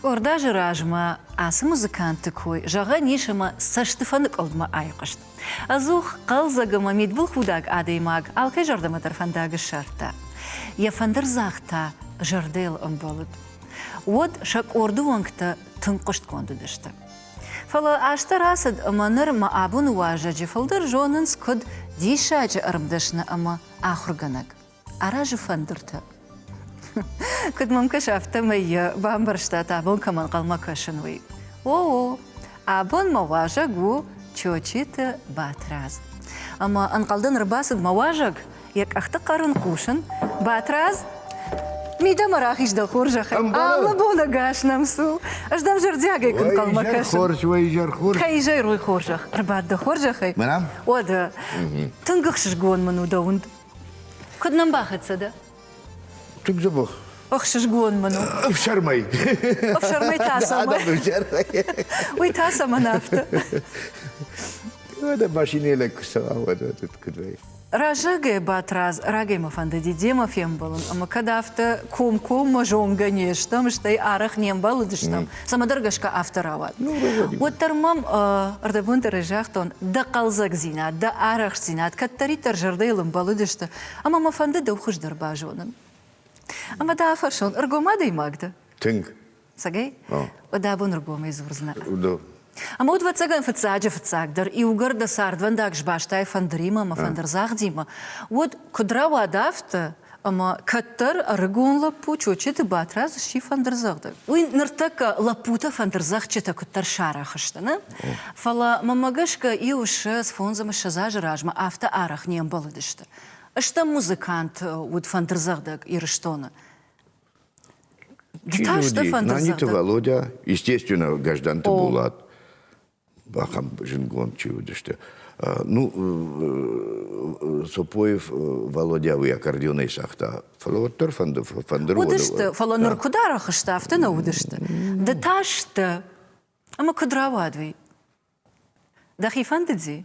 Къорд азы размӕ ацы музыкантты кой зӕгъӕн ис ӕмӕ цӕстыфӕныкъуылдмӕ айхъуыст. Ӕдзух хъӕлдзӕг ӕмӕ мидбылхудӕг адӕймаг алкӕй зӕрдӕмӕ дӕр фӕндаг ссардта. Йӕ фӕндырдзагъд та зӕрдӕйыл ӕмбӕлыд. Уӕд сӕ къорды уӕнгтӕ тынг хъуыстгонд уыдысты. Фӕлӕ азтӕ рацыд ӕмӕ ныр мӕ абоны уазӕджы фылдӕр зонынц куыд диссаджы ӕрмдӕсны ӕмӕ ахуыргӕнӕг. аразы фӕндыртӕ. Куыд мӕм кӕс, афтӕмӕй йӕ бамбӕрстат, абон кӕм ӕнхъӕлмӕ кӕсын, уый. О, абон мӕ уазӕг у Чочиты Батрадз. Ӕмӕ ӕнхъӕлдӕн ӕрбацыд мӕ уазӕг, йӕ къӕхты хъӕрын хъусын, Батрадз, мидӕмӕ рахиз дӕ хорзӕхӕй, алы бон ӕгас нӕм цу. Ӕз дӕм зӕрдиагӕй куы ӕнхъӕлмӕ кӕсын. Хорз, уӕ изӕрхор. Кӕй изӕр уый хорзӕх, ӕрбад дӕ хорзӕхӕй. Уӕдӕ. Тынг ӕхсызгон мын у дӕ уынд. Куыд нӕм бахӕццӕ дӕ? Тынг дзӕбӕх. Ӕхсызгон мын у. Ӕфсӕрмӕй. Ӕфсӕрмӕй та цӕмӕн? Уый та цӕмӕн афтӕ? Ӕдӕ машинӕйы лӕг куы цӕуа, куыд вӕййы. Раззагӕй Батрадз, рагӕй мӕ фӕндыди демӕ фембӕлын, ӕмӕ кӕд афтӕ комкоммӕ зонгӕ не стӕм, стӕй арӕх не мбӕлыдыстӕм, Цӕмӕдӕр гӕсгӕ афтӕ рауад. Ну, Уӕддӕр мӕм ӕрдӕбонты разагътон, дӕ хъӕлдзӕгдзинад, дӕ арӕхстдзинад кӕддӕриддӕр зӕрдӕйыл ӕмбӕлыдысты, ӕмӕ мӕ фӕнды дӕу хуыздӕр базонын. Ӕмӕ дӕ афӕрсон, ӕргом адӕймаг дӕ? Тынг. Сагӕй? Уӕдӕ абон ӕргомӕй дзурдзынӕ. Да. Ӕмӕ уыд, ӕвӕццӕгӕн, фыццаджы-фыццагдӕр, иугӕр дӕ цардвӕндаг сбастай фӕндыримӕ ӕмӕ фӕндырдзагъдимӕ, уӕд, куыд рауад афтӕ, Ӕмӕ кӕддӕр ӕрыгон лӕппу Чочеты Батрадз сси фӕндырдзӕгъдӕг. Уый ныртӕккӕ лӕппутӕ фӕндырдзӕгъдджытӕ куыддӕр сарӕх сты нӕ, фӕлӕ мӕмӕ гӕсгӕ иу ссӕдз, фондз ӕмӕ ссӕдз азы размӕ афтӕ арӕх не мбӕлыдысты. Стӕм музыкант уыд фӕндырдзӕгъдӕг Ирыстоны. Чи люди? Наниты Володя, естественно, гражданты Болат. бахъӕм зынгонд чи уыдысты. Ну, Цопоев Валодя уый аккордеонӕй цагъта. Фӕлӕ уӕддӕр фӕнды фӕндыр уыдысты, фӕлӕ ныр куыд арӕхсты, афтӕ нӕ уыдысты. Ды та сты. Ӕмӕ куыд рауад уый? Дӕхи фӕндыди?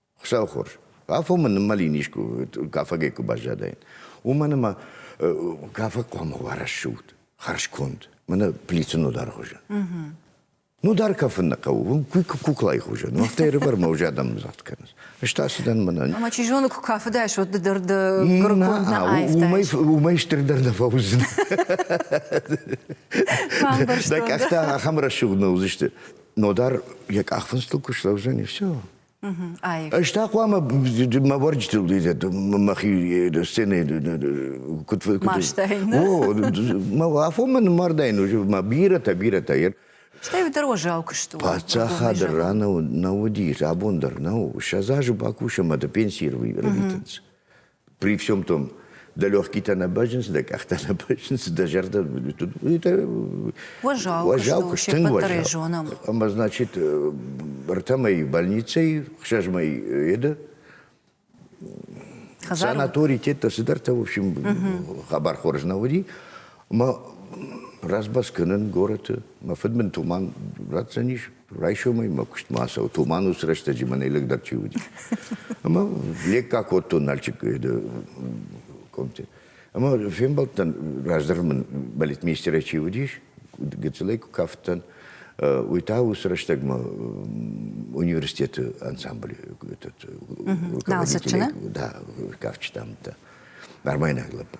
Хуссӕнхор. Афонмӕ ныммӕлин искуы кафагӕй куы баззадаин, уымӕн ӕмӕ кафаг хъуамӕ уа рӕсугъд, хӕрзконд, мӕнӕ плиты нодар хуызы. Нодар кафын нӕ хъӕуы, куклайы хуызы. Ну, афтӕ ӕрывӕрмӕ уже адӕм дзӕгъд кӕнынц. Ӕз та цыдӕн мӕнӕн. Ӕмӕ чи зоны, куы кафыдаис, уӕд ды дӕр дӕ гырконд нӕ аивтаис. Уымӕй стырдӕр нӕ фӕуыдзынӕ. Дӕ къӕхтӕ ахӕм рӕсугъд нӕ уыдзысты. Нодар йӕ къахфындзтыл куы слӕудзӕни, все. Ӕз та хъуамӕ мӕ уӕрджытыл мӕхи сценӕ куыд О, мӕ афонмӕ нымардайын мӕ бирӕтӕ, бирӕтӕ йер. Стӕй уый дӕр уӕззау куыст у. Паддзахады ран нӕ уыдис, абон дӕр нау. Сӕдз азы бакусӕм, ӕмӕ пенсийы рвитынц. При всем том, дӕ легкитӕ нӕ бӕззынц, дӕ къӕхтӕ нӕ бӕззынц, дӕ зӕрдӕ уазал, уазал куы тынг уазал. Зонам. Ӕмӕ значит, ӕртӕмӕй больницӕй, хсӕзмӕй еды санатори тетто цыдӕртӕ, в общем, хабар хорз нӕ уыди. Ӕмӕ разбас кӕнын горӕты. Мӕ фыдбын туман ратдзӕнис, Райсомӕй мӕ куыстмӕ ацӕуы. Туманус рӕстӕджы мӕнӕй лӕгдӕр чи уыди. Ӕмӕ лекка кодтон Налчик комте. Ӕмӕ фембӕлдтӕн, раздӕр мын балетмейстерӕй чи уыдис, гыццылӕй куы кафыдтӕн, уый та уыцы рӕстӕгмӕ университеты ансамбль руководителей, да, кафджытӕ амыдта. Армайнаг лӕппу.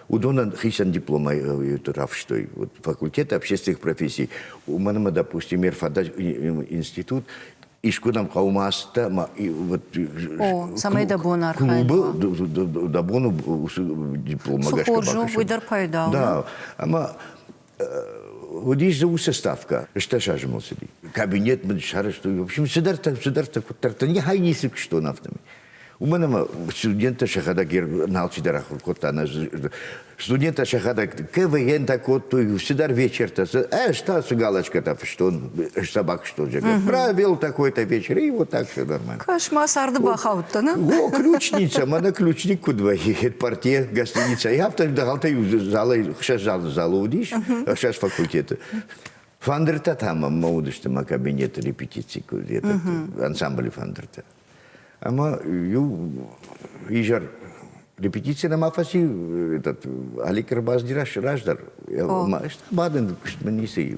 уыдонӕн хицӕн дипломӕй рафстой вот, факультеты общественных профессий. Уымӕн ӕмӕ, допустим, ер фӕдӕ институт искуынӕм хъӕумӕ ацыдтӕ ӕмӕ вот цӕмӕй дӕ бон архайын дӕ бон у дипломмӕ гӕсгӕ уый дӕр пайда у да ӕмӕ Уыдис дзы уыцы ставкӕ, стӕс азы мыл цыди. Кабинет мын сарӕзтой, в общем, цыдӕртӕ, цыдӕртӕ, куыддӕртӕ. Нихай ницы куыстон афтӕмӕй. Уымӕн ӕмӕ студенттӕ сӕхӕдӕг алчидӕр ахуыр кодта. Студенттӕ сӕхӕдӕг КВН-тӕ кодтой цыдӕр вечертӕ. Ӕз та цы галочкӕтӕ фыстон, ӕз сӕ бакуыстон, зӕгъгӕ, правил такой-то вечер, и вот так все нормально. Кошмар сарды бахаудтӕ, не? О, ключница, мӕнӕ ключник куыд вӕййы партия, гостиница. Я автор дӕгъӕлтӕй залӕй хсӕз залы залы уыдис, хсӕз факультеты. Фӕндыртӕ та мӕ уыдысты мӕ кабинеты репетици, ансамблы фӕндыртӕ. Ӕмӕ иу изӕр репетици нӕма фӕци этот Али Карбаз раздӕр. Бадын куыст мын ницы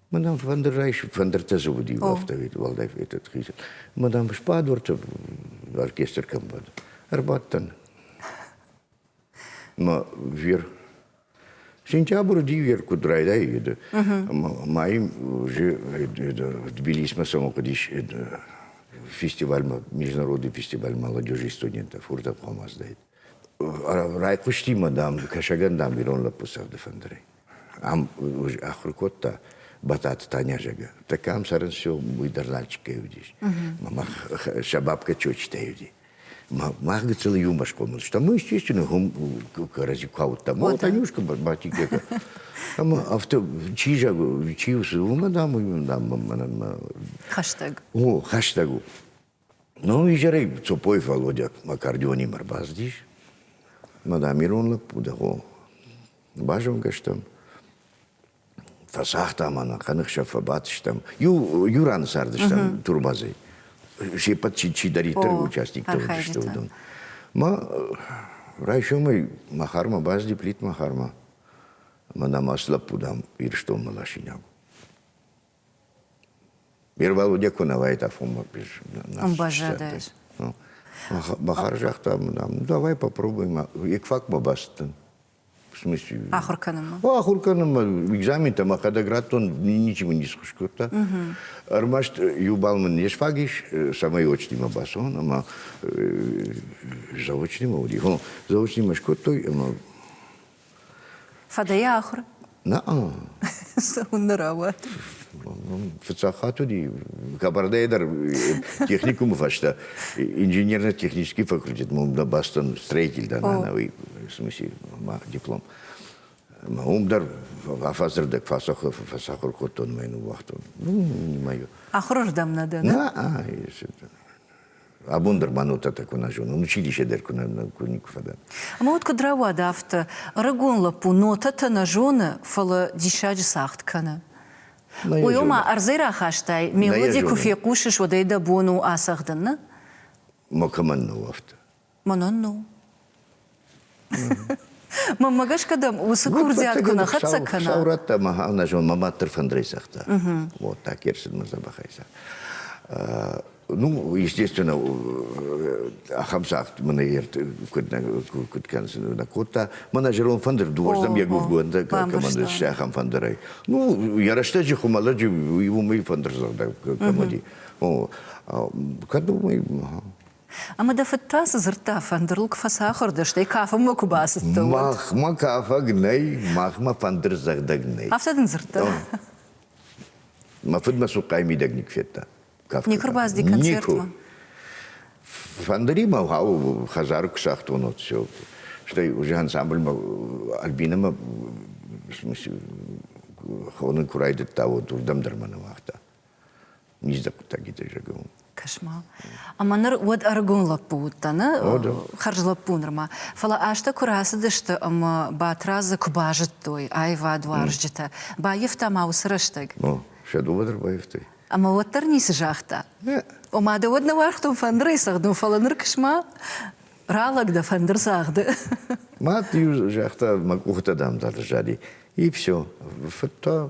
Мадам Фандер Райш Фандертӕ зы уыди автовед уӕлдай этот хизын. Мадам Шпадворты оркестр кӕм бад. Ӕрбадтӕн. Ма вер Сентябры дивер куд райдайы майым же Тбилисмӕ самокъдис фестиваль международный фестиваль молодежи и студентов хуртап хамаздайт. райхъуысти ма, дам, кӕсӕгӕн, дам, ирон лӕппу цӕгъды фӕндырӕй. Ам ахуыр кодта Бататы Таня зӕгы. Так ам сӕрын все, уый дӕр Нальчиккӕй уыдис. Мама сӕ бабка чочитӕй уыди. Мах гыцыл юмор скомыл, что мы, естественно, hum кӕрӕдзи каудтам. О, Танюшка, батикека. Ӕмӕ афтӕ чи зӕг, чи усы, уымӕ, дам, уым, дам, мӕнӕн мӕ. Хӕстӕг. О, хӕстӕг у. Ну, изӕрӕй Цопой Володя Макардионимӕ рбацыдис. Мӕ дам, ирон лӕппу дӕ хо. Базонгӕ стӕм. Фӕсагъта мӕнӕ, хъаныхсӕв фӕбадтыстӕм. Иу, иу раны цардыстӕм турбазӕй. Се ппӕт чи чидӕриддӕр участниктӕ уыдысты уыдон. Ма райсомӕй Махармӕ базди Плит Махармӕ. Мӕ нӕм ацы лӕппу, дам, Ирыстонмӕ ласинаг. Бервалуде ку нӕ уайтӕфунмӕ без Ӕмбазадӕй. Бахар загъта, ну давай попробуем екфак бабастын. В смысле? Ахуыр кӕнынмӕ. О, ахуыр кӕнынмӕ, экзаментӕмӕ хъӕдӕградтон ничего не схуыз кодта. Ӕрмӕст иу бал мын не сфаг ис, цӕмӕй очнимӕ бацӕуон, ӕмӕ заочнимӕ уыди. Заочнимӕ скодтой, ӕмӕ Фӕдӕйы ахуыр? Нӕ. Цӕуын нӕ рауад. Фыццаг хатт уыди Кабардӕйы дӕр техникумы фӕстӕ инженерно-технический факультет мы бастон строительда на новый в смысле диплом. Мӕ уым дӕр афӕдзырдӕг фӕсахуыр кодтон мӕ уыхтон. Ну, не мӕйо. Ахуырырдӕм нӕ дӕ? Нӕ, Абон дӕр мӕнӕутатӕ куы нӕ зонон, училище дӕр куы нӕ куы никуы фӕдӕн. Ӕмӕ уӕд куыд рауад афтӕ? Ӕрыгон лӕппу нотӕтӕ нӕ зоны, фӕлӕ диссаджы цагъд кӕны. Уый ома ӕрдзӕй рахастай, мелоди куы фехъусыс, уӕд ӕй дӕ бон у ацӕгъдын, нӕ? Макӕмӕн нӕу афтӕ. Мӕнӕн нӕу. Мӕмӕ гӕсгӕ дӕм уыцы курдиат куы нӕ хӕццӕ кӕна. Саурӕттӕ мӕ ӕнӕзон мӕ мад дӕр фӕндырӕй цагъта. Вот так ӕрцыд мӕ дзӕбӕхӕй цаг. Ну, естественно, ахӕм цагъд мын куыд куыд кӕнсын нӕ кодта. Мӕнӕ зӕронд фӕндыр дыууӕздӕм йӕ гуывгондӕ кӕмӕн ссы ахӕм фӕндырӕй. Ну, йӕ рӕстӕджы хуымӕлӕджы уый уымӕй фӕндырдзӕгъдӕг кӕм уыди. Кӕд уымӕй Ӕмӕ дӕ фыд та цы дзырдта? Фӕндырыл куы фӕцахуыр дӕ, стӕй кафынмӕ куы бацыдтӕ, уӕд? Махмӕ кафӕг нӕй, махмӕ фӕндырдзӕгъдӕг нӕй. Афтӕ дын дзырдта? Мӕ фыд мӕ цухъхъайы мидӕг никуы федта. кафгӕ Никуы рбацыди концертмӕ? Фӕндыримӕ хауы хӕдзары куы сӕхтон, вот все. Стӕй уже ансамбльмӕ Альбинӕмӕ в смысле, хоны куы райдыдта, вот уырдӕм дӕр мӕ не уагъта. Низдзаг хъуыддагитӕй зӕгъын. Кошмар. Ӕмӕ ныр уӕд ӕрыгон лӕппу уыдтӕ, нӕ? Хӕрз лӕппу нырма. Фӕлӕ азтӕ куы рацыдысты ӕмӕ Батрадзы куы базыдтой аивадуарзджытӕ, баййӕфта ма уыцы рӕстӕг? Ну, сӕ дыууӕ дӕр баййӕфтой. Ӕмӕ уӕддӕр ницы загъта? Нӕ. Ома дӕ уӕд нӕ уаргътон фӕндырӕй цӕгъдон, фӕлӕ ныр куысма ралӕг дӕ фӕндыр цагъды. Мад иу загъта, мӕ къухтӕ дам дады зади. И все. Фыдта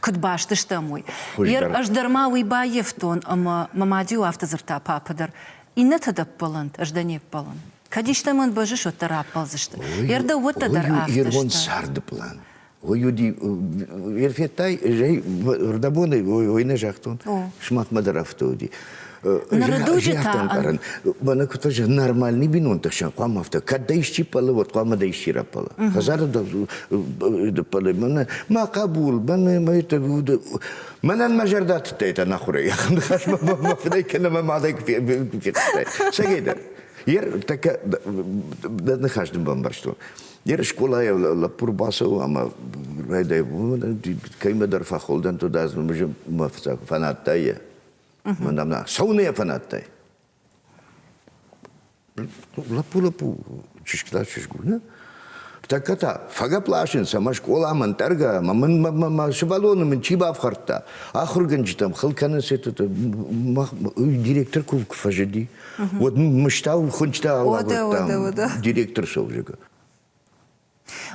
куыд баст стӕм, уый. Ер ӕз дӕр ма уый баййӕфтон, ӕмӕ мӕ мад-иу афтӕ дзырдта папы дӕр, иннӕтӕ дӕ ппӕлӕнт, ӕз дӕ не ппӕлын. Кӕд истӕмӕн бӕззыс, уӕддӕр раппӕлдзысты. Ер дӕуӕттӕ дӕр афтӕ Ирбон сӕрды план. Уый уыди, Ир федтай, зӕй, рдӕбонӕй уой нӕ загътон, сымахмӕ дӕр афтӕ уыди. ӕмбарын бӕнӕ куы та нормальный бинонтӕ сӕ хъуамӕ афтӕ кӕд дӕ исчи пӕлы вот хъуамӕ дӕ исчи рапӕлы хӕдзары пӕлы мӕнӕ мӕ хъӕбул мӕнӕ мӕ мӕнӕн мӕ зӕрдӕ тыдта это нахуырӕй ахӕм ныхас мӕ фыдӕй кӕнӕ мӕ мадӕй куы федтай сӕгейдӕр ер така дӕ ныхас дын бамбӕрстон ер скъолайӕ лӕппур бацӕуы ӕмӕ райдай уымӕн кӕимӕдӕр фӕхуылдӕн то дӕ мыжы мӕ фӕнадта йӕ Мадам, сауная фанаттӕй. Лапу, лапу, чышкыда чышгулна. Тӕккӕ та фӕгӕпласынц ӕмӕ скъола мӕн тӕргӕ, мӕ сывӕллоны мын чи бафхӕрдта, ахуыргӕнджытӕм хыл кӕнынц это директор куы фӕзыди. Вот мыштау хуынчътӕ ауагъдта директор совжега.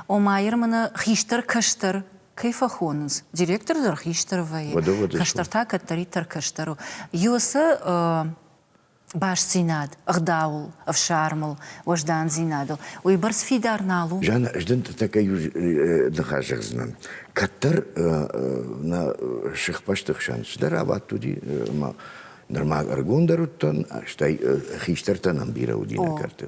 Ома, Ермыны хистӕр кӕстӕр кӕй фӕхонынц? Директор дӕр хистӕр вӕййы, кӕстӕр та кӕддӕриддӕр кӕстӕр у. Иу цы бастдзинад, ӕгъдауыл, ӕфсармыл, уӕздандзинадыл, уыйбӕрц фидар нал у? Жанна, ӕз дын тӕккӕ иу ныхас зӕгъдзынӕн. Кӕддӕр нӕ сыхбӕсты хсӕн цыдӕр абадт уыди, ӕмӕ Нырма ӕргондӕр уыдтӕн, стӕй хистӕртӕн ӕмбирӕ уыди нӕ кӕрты.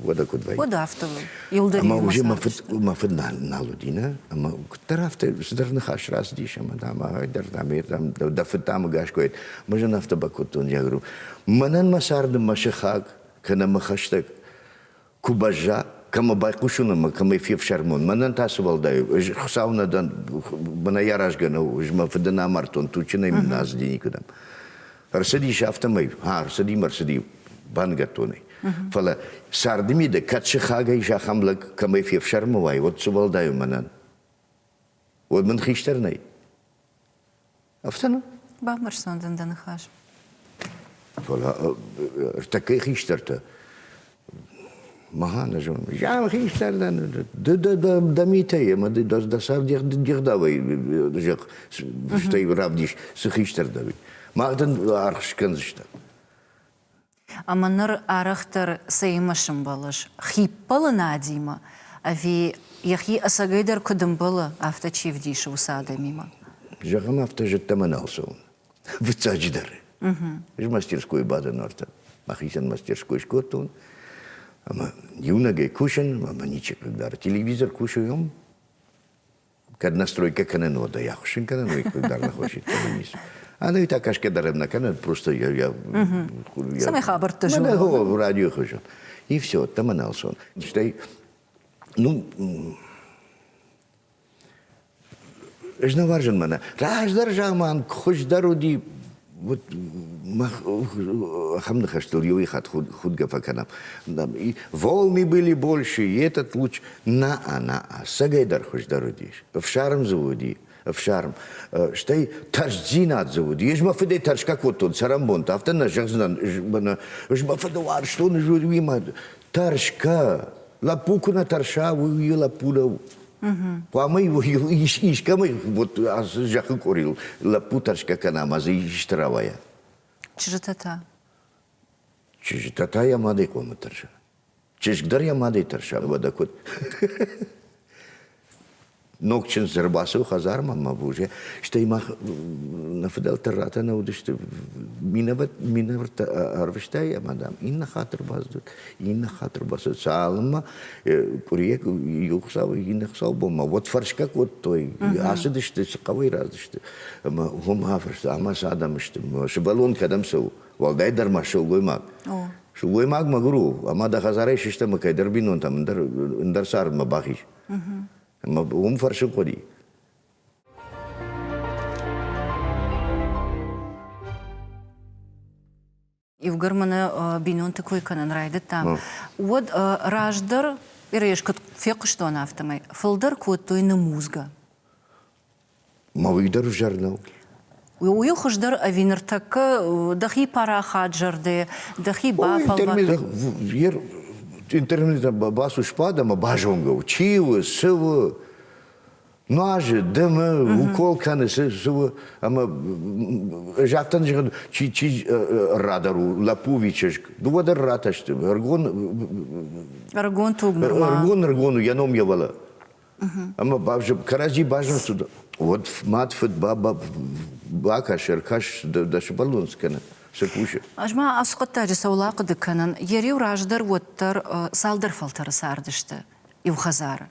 Уӕдӕ куыд вӕййы? Уӕд афтӕ у. Иуылдӕр Ӕмӕ уже мӕ фыд, мӕ фыд нал, нал уыди, нӕ? Ӕмӕ куыддӕр афтӕ стыр ныхас рацыдис ӕмӕ, дам, ӕгайдӕр, дам, дам, дӕ фыд та ӕмгӕс куы уайд. Мӕз ын афтӕ бакодтон, я говорю, мӕнӕн мӕ царды мӕ сыхаг, кӕнӕ мӕ хӕстӕг Куы бӕзза, кӕмӕ байхъусын ӕмӕ кӕмӕй фефсӕрмон, мӕнӕн та цы уӕлдай у? Ӕз Хуыцау нӕ дӕн, бынӕй аразгӕ нӕу, ӕз мӕ фыды нӕ амардтон, тучынӕй мын нӕ ацыди никуыдӕм. Ӕрцыдис афтӕмӕй, хӕ, ӕрцыди мӕ рцыди баныгӕдтонӕй. Фӕлӕ царды мидӕг кӕд сыхагӕй зӕххӕм лӕг кӕмӕй фефсӕрмы уай, уӕд цы уӕлдай у мӕнӕн? уӕд мын хистӕр нӕй. Афтӕ нӕ? Бамбӕрстон дын дӕ ныхас. Фӕлӕ ӕртӕккӕй хистӕртӕ Махӕн зон. Зам хистӕр дӕн, дӕ митӕй, ӕмӕ дӕ сӕр дегъдавӕй зӕгъ, стӕй равдис, цы хистӕр дӕ, уый. Мах дын аргъ скӕндзыстӕм. ӕмӕ ныр арӕхдӕр цӕимӕ сымбӕлыс? Хиппӕлынадимӕ ӕви йӕхи ӕцӕгӕйдӕр куы дымбылы, афтӕ чи вдисы уыцы адӕмимӕ? Зӕгъӕм, афтӕ зыдтамӕ нал цӕуын. Фыццаджыдӕр, ӕз мастерскойы бадӕн Артӕ мӕхицӕн мастерской скодтон, ӕмӕ иунӕгӕй кусын ӕмӕ ничи хъыгдары. Телевизор кусы уым. кӕд настройка кӕнӕн уодо, я хушин кӕнӕн, уй кулдар нахошит низ. Ана та кашке даремна кӕнен, просто я... я Сами хабарты жу. Мана го радио хожу. И все, там аналсон. Штай, ну... Эжна варжан мана. Раздар жаман, хуҗдар уди мах ахам ныхӕстыл иуый хатт худгӕ фӕкӕнӕм волны были больше и этот луч на-а на-а сӕгӕйдӕр хуыздӕр уыдис ӕфсарм дзы уыди ӕфсарм стӕй тӕрсдзинад дзы уыди ӕз мӕ фыдӕй тӕрсгӕ кодтон цӕрӕнбонты афтӕ нӕ зӕгъдзынӕн мӕнӕ ӕз мӕ фыды уарзтон уыимӕ тӕрсгӕ лӕппу куы нӕ тӕрса уый лӕппу нӕу Хъуамӕ искӕмӕй вот ацы зӕххы къорил лӕппу тӕрсгӕ кӕнӕм, ӕз исты рауайа. Чызджытӕ та? Чызджытӕ та йӕ мадӕй хъуамӕ тӕрса. Чызг дӕр йӕ мадӕй тӕрса, уӕдӕ куыд? Ног чындз ӕрбацыд хӕдзармӕ мӕ боже, стӕй мах нӕ фыдӕлтӕ ратӕ нӕ уыдысты. Минӕвӕрттӕ ӕрвыстай ӕмӕ дӕм иннӕ хатыр баздыд. инна хатыр бацыд цалынмӕ къуыриек иу хуыцау иннӕ хуыцаубонмӕ уӕд фӕрсгӕ кодтой ацыдысты цы хъӕуӕй рацыдысты ӕмӕ уым афарста ӕмӕ цы адӕм сты сывӕллон кӕдӕм цӕуы уӕлдайдӕр ма сылгоймаг сылгоймаг мӕгуыр у ӕмӕ дӕ хӕдзарӕй сыстӕм ӕмӕ кӕйдӕр бинонтӕм ӕндӕр ӕндӕр цардмӕ бахиз ӕмӕ уым фӕрсын хъуыди Иугӕр мӕнӕ бинонты кой кӕнын райдыдтам, уӕд раздӕр Ирыйас куыд фехъуыстон, афтӕмӕй фылдӕр кодтой нымудзгӕ. Ма уый дӕр ӕвзӕр нӕу? Уый хуыздӕр ӕви ныртӕккӕ дӕхи парахат зӕрдӕ, дӕхи бафӕлвӕрд? Интернетӕн бацу сбад ӕмӕ базонгӕ у, чи у, цы у. нуазы, дымы, укол кӕны, цы у, ӕмӕ загътан зӕгъын, чи чи радар у, лӕппуви чызг, дыууӕ дӕр ратӕсты, ӕргон ӕргон туг ӕргон ӕргон у йӕ ном йевӕлӕ. Ӕмӕ бавзып кӕрӕдзи базымсуд, уӕд мад фыд баба бакӕс, ӕркӕс, дӕ сывӕллон цы кӕны, цы кусы. Ӕз ма ацы хъуыддаджы цӕуыл ахъуыды кӕнын, йӕ риу раздӕр уӕддӕр цалдӕр фӕлтӕры цардысты. иу хӕдзары.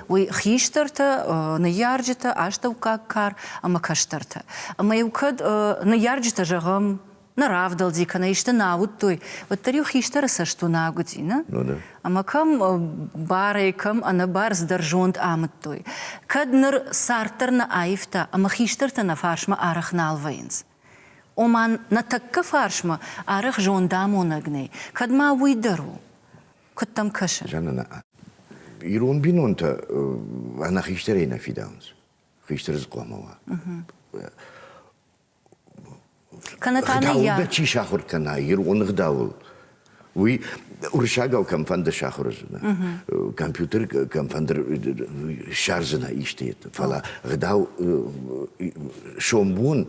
Уый хистӕртӕ, ныййарджытӕ, астӕуккаг кар ӕмӕ кӕстӕртӕ. Ӕмӕ-иу кӕд ныййарджытӕ, зӕгъӕм, нӕ равдӕлди кӕнӕ исты нӕ уыдтой, уӕддӕр-иу хистӕры цӕст уынаг уыди, нӕ? Ӕмӕ кӕм барӕй, кӕм ӕнӕбӕрздӕр зонд амыдтой, кӕд ныр цард дӕр нӕ аивта ӕмӕ хистӕртӕ нӕ фарсмӕ арӕх нал вӕййынц? Ома, нӕ тӕккӕ фарсмӕ арӕх зондамонӕг нӕй, кӕд ма уый дӕр у? Куыд дӕм кӕсы? Ирон бинонтӕ ӕнӕ хистӕрӕй нӕ фидауынц. Хистӕр дзы хъуамӕ уа. Кӕнӕ та ныййард. Чи сахуыр кӕна ирон ӕгъдауыл, уый уырыссагау кӕмфӕнды сахуыр уыдзынӕ, компьютер кӕмфӕнды ссардзынӕ исты, фӕлӕ ӕгъдау сомбон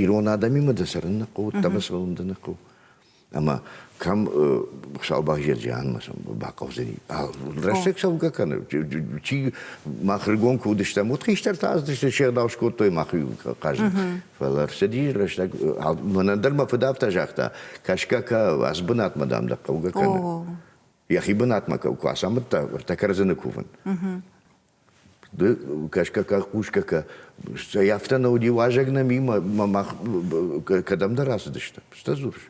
ирон адӕмимӕ дӕ цӕрын ныхъхъу, уыдтӕмӕ цӕуын дӕ ныхъхъу. Ӕмӕ кӕм Саубӕзджер Джианмӕ бахъӕудзӕни. Рӕстӕг цӕугӕ кӕны. Чи мах рыгон куы уыдыстӕм, уыд хистӕртӕ аздысты, се рдау скодтой махи хъазын. Фӕлӕ рцыди рӕстӕг. Мӕнӕн дӕр мӕ фыд афтӕ загъта, кӕсгӕ кӕ, ас бынатмӕ дам дӕ хъӕугӕ кӕны. Йӕхи бынатмӕ куы ацамыдта, ӕртӕ кӕрдзыны кувын. кӕсгӕ кӕ хъусгӕ кӕ стӕй афтӕ нӕ уыди уазӕг нӕми мах кӕдӕмдӕр ацыдысты стӕ дзурыс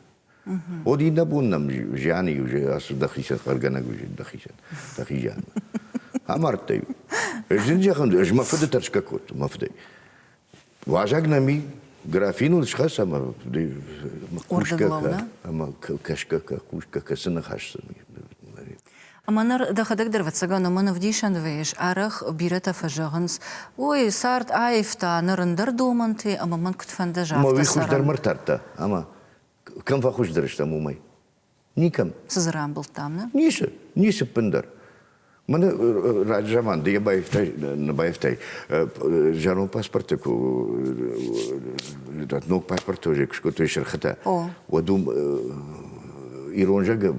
уӕд иннӕ бон нӕм зианы иу ацыд дӕхицӕн хъӕргӕнӕг уызин дӕхицӕн дӕхи зианмӕ амардтай зын зӕгъын ӕз мӕ фыды тӕрсгӕ кодтон мӕ фыдӕй Уазӕг нӕм и, графиныл схӕсӕм ӕмӕ кӕсгӕ кусгӕ кӕсы ныхасдзӕни. Ӕмӕ ныр дӕхӕдӕг дӕр, ӕвӕццӕгӕн, уымӕн ӕвдисӕн вӕййыс, арӕх бирӕтӕ фӕзӕгъынц, ой, цард аивта, ныр ӕндӕр домӕнты ӕмӕ мӕн куыд фӕнды, афтӕ цӕрӕм. Мӕ уый хуыздӕр ма ртардта, ӕмӕ кӕм фӕхуыздӕр стӕм, уымӕй. Никӕм. Цы дзы рамбылдтам нӕ? Ницы, ницы ӕппындӕр. Мӕны раджы заман ды йӕ баивтай, нӕ баивтай зӕронд паспорты ног паспорты уже куы скодтой сырхытӕ. Уӕд уым ирон зӕгы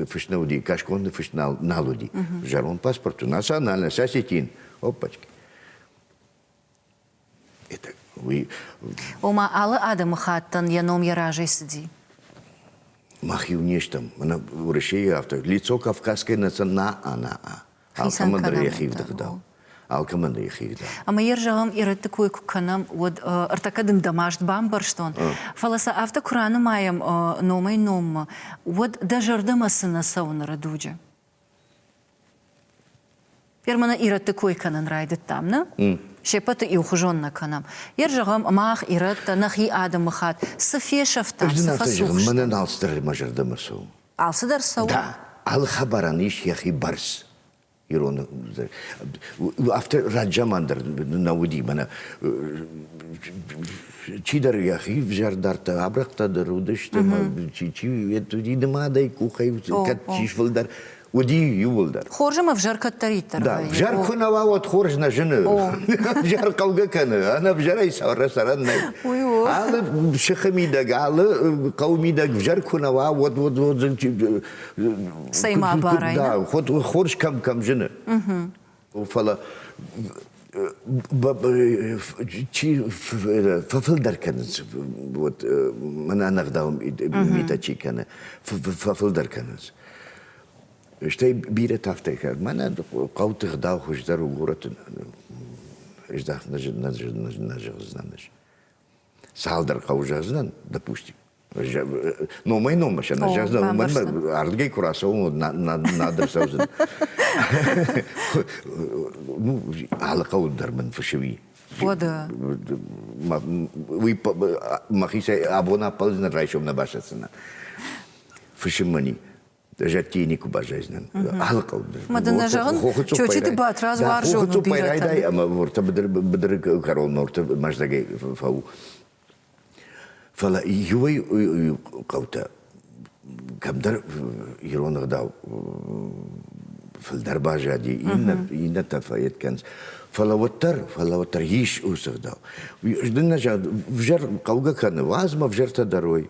фыст нӕ уыди, кӕсгонды фыст нал, нал уыди. Зӕронд паспорт у национальность, осетин. Опачки. Ома алы адӕмыхаттӕн йӕ ном йӕ разӕй цыди? Мах иу не стӕм. Мӕнӕ Уӕрӕсейы афтӕ. Лицо кавказской национа-а. Алкӕмӕн дӕр йӕ хивдыгъдау. Алкӕмӕн дӕр йӕ хивдыгъдау. Ӕмӕ йӕ зӕгъӕм, ирӕтты кой куы кӕнӕм, уӕд ӕртӕккӕ дын дӕ маст бамбӕрстон, фӕлӕ сӕ афтӕ куы ранымайӕм номӕй-номмӕ, уӕд дӕ зӕрдӕмӕ цы нӕ цӕуы ныры дуджы? Перманы ирӕтты кой кӕнын райдыдтам, нӕ? Сеппӕты иухуызон нӕ кӕнӕм. Йе рзӕгъӕм, мах, ирӕттӕ, нӕхи адӕмы хат цы фесӕфтам, цы фӕцух Мӕнӕ алцыдӕр мӕ зӕрдӕмӕ цӕуы. Алцыдӕр цӕуы? Да, алы хабарӕн ис йӕхи бӕрц. Ирон афтӕ раззаман дӕр нӕ уыди, мӕнӕ чидӕр йӕхи ӕвзӕрдӕртӕ абырӕгтӕ дӕр уыдысты, чи чи уыди нымадӕй къухӕй кӕд чи сфылдӕр, уыди иууылдӕр. Хорзым ӕвзӕр кӕддӕриддӕр. Да, ӕвзӕр куы нӕ уа, уӕд хорз нӕ зыны. Ӕвзӕр хъӕугӕ кӕны, ӕнӕвзӕрӕй сӕрӕн нӕй. Алы сыхы мидӕг, алы хъӕу мидӕг ӕвзӕр куы нӕ уа, уӕд уӕд уодзӕн. Цӕй ма абарай. Да, хорз кӕм кӕм зыны. Фӕлӕ чи фӕфылдӕр кӕнынц, вот мӕнӕ ӕнӕгъдау митӕ чи кӕны, фӕфылдӕр кӕнынц. Стӕй бирӕ тагъдтӕй кӕ. Мӕнӕ хъӕуты гъдау хуыздӕр у горӕты. Нӕ зӕгъдзынӕн ӕз. цалдӕр хъӕуы зӕгъдзынӕн допустим номӕй-номмӕ сӕ нӕ зӕгъдзӕн уымӕн ардыгӕй куы рацӕуон уӕд надыр цӕудзӕн алы хъӕуы дӕр мын фысыми Ода. Уый мӕхицӕй абон ӕппӕлдзынӕн райсом нӕ басӕтдзынӕн. Фысыммӕ зӕдтӕй никуы баззайдзынӕн. Ӕлхъывды. Ма дын нӕ зӕгъын, Чочиты Батрадз уарзон бирӕтӕ. Ӕмӕ уыртӕ быдыры кӕрон норты мӕздӕгӕй фӕу. Фӕлӕ иуӕй хъӕутӕ кӕмдӕр ирон ӕгъдау фылдӕр баззади, иннӕтӕ фӕйед кӕнц. Фӕлӕ уӕддӕр, фӕлӕ уӕддӕр ис уыцы ӕгъдау. Дын нӕ зӕгъ, взӕр хъӕугӕ кӕны, уадз мӕ взӕртӕ дарой.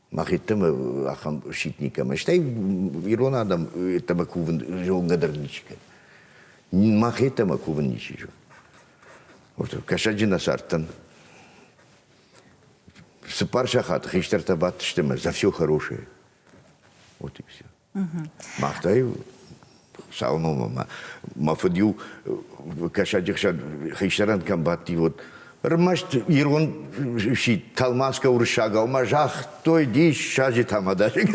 мӕхӕдӕг ахӕм сидт никӕмӕ. Стӕй ирон адӕм еттӕмӕ кувын зонгӕ дӕр ничи кӕны. Мӕхӕдӕмӕ кувын ничи зоны. Кӕсӕджы нӕ цардтӕн. Цыппар сахаты хистӕртӕ бадтысты мӕ за все хорошее. Вот и все. Махтӕ-иу цал номы мӕ мӕ фыд-иу кӕсӕджы хсӕн хистӕрӕн кӕм бадти, уӕд ӕрмӕст ирон сидт тӕлмацгӕ уырыссагау мӕ загътой диссаджы тамадашыг.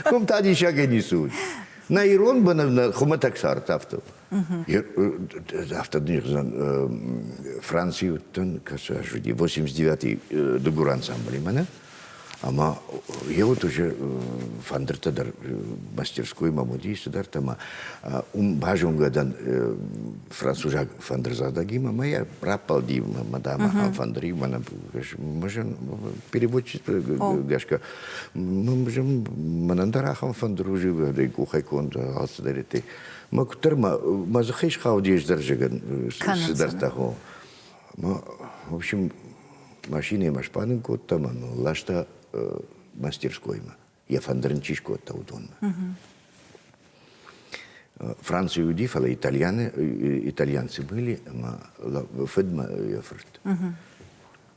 Куым та диссагӕй ницы уыд. Нӕ ирон быны нӕ хуымӕтӕг цард афтӕ у. Автодирзан Франции уыдтӕн, кӕцы аж уыди 89-й дыгур ансамблимӕ нӕ, ӕмӕ йе уыд уже фӕндыртӕ дӕр мастерскоймӕ уыди цыдӕртӕ ӕмӕ уым базонгӕ дӕн французаг фӕндырзадагимӕ ӕмӕ йӕ раппӕлди мадамӕ ам фӕндыры мӕнӕ переводчество гӕсгӕ мӕнӕн дӕр ахӕм фӕндыр у живы къухӕй конд алцыдӕр Мӕ куыддӕр мӕ дзыхӕй схауди ӕз дӕрзӕгӕн цыдӕртӕ хо. В общем, машинӕмӕ сбанын кодта мӕ ласта мастерскоймӕ. Йӕ фӕндыр ын чи скодта, уыдонмӕ. Францийы уыди, фӕлӕ итальяны, итальянцы были, ӕмӕ фыдмӕ йӕ фырт.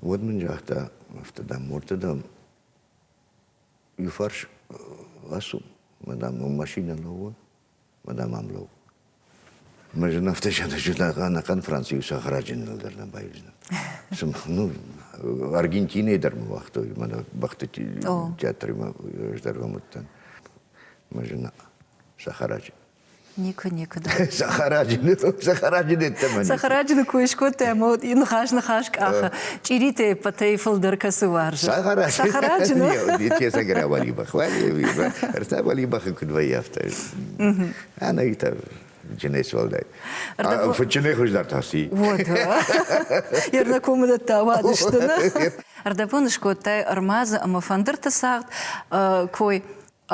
Уӕд мын загъта афтӕ, дам, мордты, дам, иу фарс ласу, мадам, мӕм машинӕ лӕууы, мадам, ам лӕуу. Мы же на автошедо ӕнӕхъӕн Францийы сахараджын дӕр нӕ баивдзынӕ. Ну, Аргентинӕйы дӕр мы уагътой, мӕнӕ бӕхты театры мы раздӕргом уыдтӕн. Мы же на сахараджы. Никы, никы. Сахараджины, сахараджины тӕмӕн. Сахараджины кой скодта ӕмӕ уыд ныхас ныхас къахы. Чъиритӕй пӕтӕй фылдӕр кӕцы уарзы. Сахараджины. Сахараджины. Тесаг ря Валибах. Ӕртӕ Валибахы куыд вӕййӕфта. Ӕнӕгитӕ Джинес валдай. Фычынӕй хуыздӕр тасти. Вот. Ерна комыдӕттӕ уадысты. Ӕрдӕбон скодтай ӕрмадзы ӕмӕ фӕндырты цагъд кой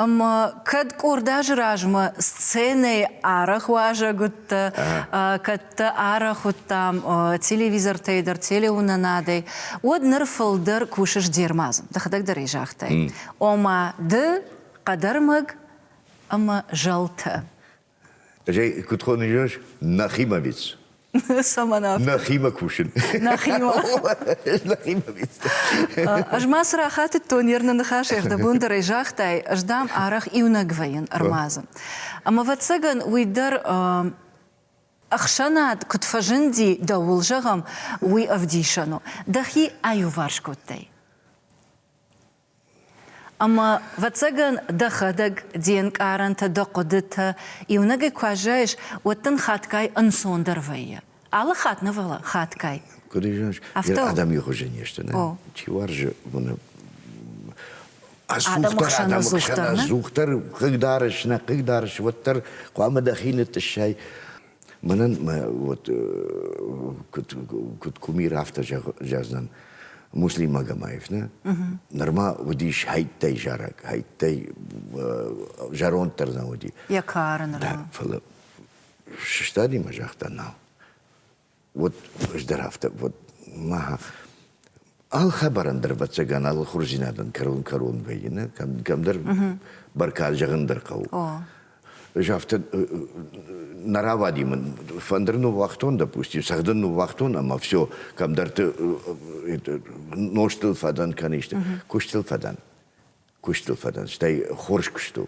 Ӕмӕ кӕд къорд азы размӕ сценӕйы арӕх уазӕг уыдтӕ, кӕд дӕ арӕх уыдтам телевизортӕй дӕр, телеуынынадӕй, уӕд ныр фылдӕр кусыс де рмадзы. Дӕхӕдӕг дӕр ӕй загътай. Ома, ды хъӕдӕрмӕг ӕмӕ зӕлтӕ Куыд хоны зӕгъыс? Нахима виц. Цӕмӕн афтӕ? Нахима кусын. Нахима. Нахима виц. Ӕз ма цы рахатыдтон, Ерны ныхас ӕрдӕбондӕрӕй загътай, ӕз дам арӕх иунӕг вӕййын ӕрмадзы. Ӕмӕ, ӕвӕццӕгӕн, уый дӕр ӕхсӕнад куыд фӕзынди, дӕуыл зӕгъӕм, уый ӕвдисӕн у. Дӕхи аиуварс кодтай. Ӕмӕ, ӕвӕццӕгӕн, дӕхӕдӕг де нкъарӕнтӕ, дӕ хъуыдытӕ иунӕгӕй куы аззайыс, уӕд дын хатгай ӕнцондӕр вӕййы. Алы хатт нӕ, фӕлӕ хатгай. Куыд ис, йӕ адӕмйы хуызӕн не сты, нӕ? Чи уарзы уыны. Ӕдзухдӕр хъӕдӕмгсӕн ӕдзухдӕр хъыгдарыс, нӕ хъыгдарыс, уӕддӕр хъуамӕ дӕхи нытъыссай. Мӕнӕн мӕ вот куыд куыд кумир афтӕ зӕгъдзӕн муслимаг Амаевна нырма уыдис хӕйттӕй зарӕг, хӕйттӕй зӕронд дӕр нӕ уыди. Йӕ кары нырма. Фӕлӕ сыстади мӕ загъта нал. Уӕд ӕз дӕр афтӕ, вот, ма алхабарӕн дӕр, ӕвӕццӕгӕн, алы хурзинадӕн кӕрон-кӕрон вӕййы, нӕ? Кӕм, кӕмдӕр бӕркад зӕгъын дӕр хъӕуы. Ӕз афтӕ нӕ равади мын, фӕндыр ныууагътон, допустим, цӕгъдын ныууагътон, ӕмӕ все, кӕмдӕрты нозтыл фӕдӕн кӕны исты, куыстыл фӕдӕн. Куыстыл фӕдӕн, стӕй хорз куыст у.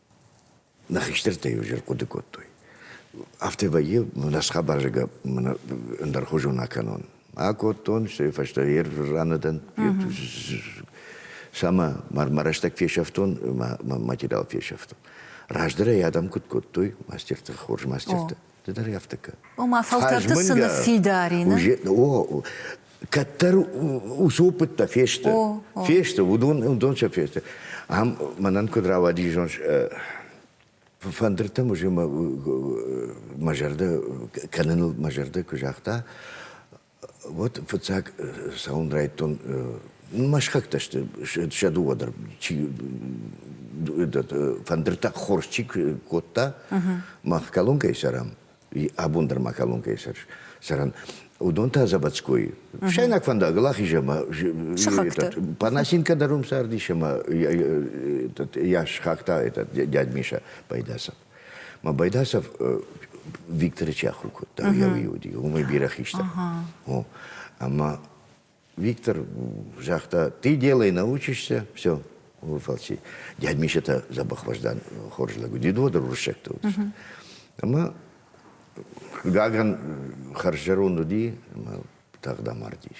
Нӕ хистӕртӕ-иу зыр хъуыды кодтой. Афтӕ вӕййы, нӕ схабарзагӕ мӕ ӕндӕрхуызон акӕнон. Акодтон, стӕй фӕстӕ йе раны дӕн. Самӕ мӕ рӕстӕг фесӕфтон, мӕ материал фесӕфтон. Раздӕр ӕй адӕм куыд кодтой, мастертӕ, хорз мастертӕ. Ды дӕр ӕфтыка. Ома фӕлтӕрты цы ныффидарин? О, кӕддӕр ус опыттӕ фесты. Фесты, уыдон уыдон сӕ фесты. Ам мӕнӕн куыд рауади зон фӕндыртӕ музе мӕ зӕрдӕ кӕныныл мӕ зӕрдӕ куы загъта, Вот фыццаг цӕуын райдтон. Мӕ схӕгтӕ сты сӕ дыууӕ дӕр чи фӕндыртӕ хорз чи кодта, мах колонкӕйы сӕрам, абон дӕр ма колонкӕйы сӕр сӕрӕн, уыдон та Заводской. Сӕйнаг фӕндагыл ахизы ӕмӕ Панасенко дӕр уым цардис ӕмӕ йӕ схагта этот дядь Миша Пайдаса. Мӕ байдасов Викторы чи ахуыр кодта, йӕ уый уыди, уымӕй бирӕ хистӕр. Ӕмӕ Виктор загъта, ты делай, научишься, все, фалчи. Дядь Миша-то забахваждан хорз лӕг уыди, доды руссӕгтӕ уыдысты. Ӕмӕ Гаган хӕрззӕронд уыди, ӕмӕ тагъд амардис.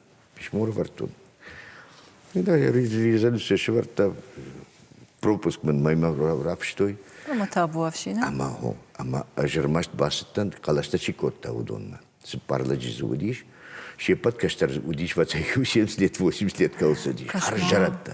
письмо ӕрӕвӕрдтон. Да, резиденция сывӕрдта пропуск мын мӕймӕ рафыстой. Ӕмӕ табу ӕфсинӕн. Ӕмӕ хо, ӕмӕ ӕз ӕрмӕст бацыдтӕн, хъӕлӕстӕ чи кодта, уыдонмӕ. Цыппар лӕджы дзы уыдис, се ппӕт кӕстӕр уыдис, фӕцӕй-иу 70 лет, 80 лет кӕуыл цыдис. Хӕрззӕрӕдтӕ.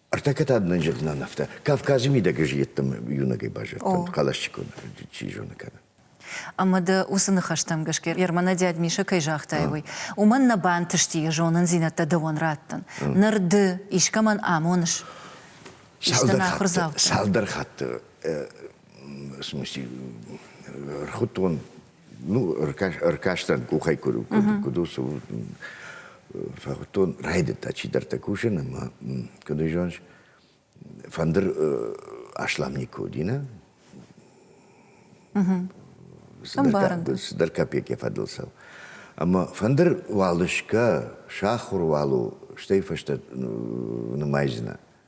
Ӕртӕкӕ та дын зӕгъдзынӕн афтӕ. Кавказы мидӕг ӕз йеддӕмӕ иунӕгӕй баззадтӕн, хъӕлӕсджыконд, чи зоны кӕнӕ. Ӕмӕ дӕ уыцы ныхӕстӕм гӕсгӕ, Ермана дӕд Мишӕ кӕй загътай, уый, уымӕн нӕ бантысти йӕ зонындзинӕдтӕ дӕуӕн раттын. Ныр ды искӕмӕн амоныс? Цалдӕр хатты, цалдӕр хатты, в смысле, рхуыдтон ну, ӕркастӕн къухӕй куыд, куыд, куыд у, цы у. Фӕхуыдтон, райдыдта чидӕртӕ кусын, ӕмӕ куыд зоныс, фӕндыр аслам никуы уыди, нӕ? Цыдӕр копейки фӕдыл цӕуы. Ӕмӕ фӕндыр уал сгӕ, сахуыр уал у, стӕй фӕстӕ нымайдзынӕ.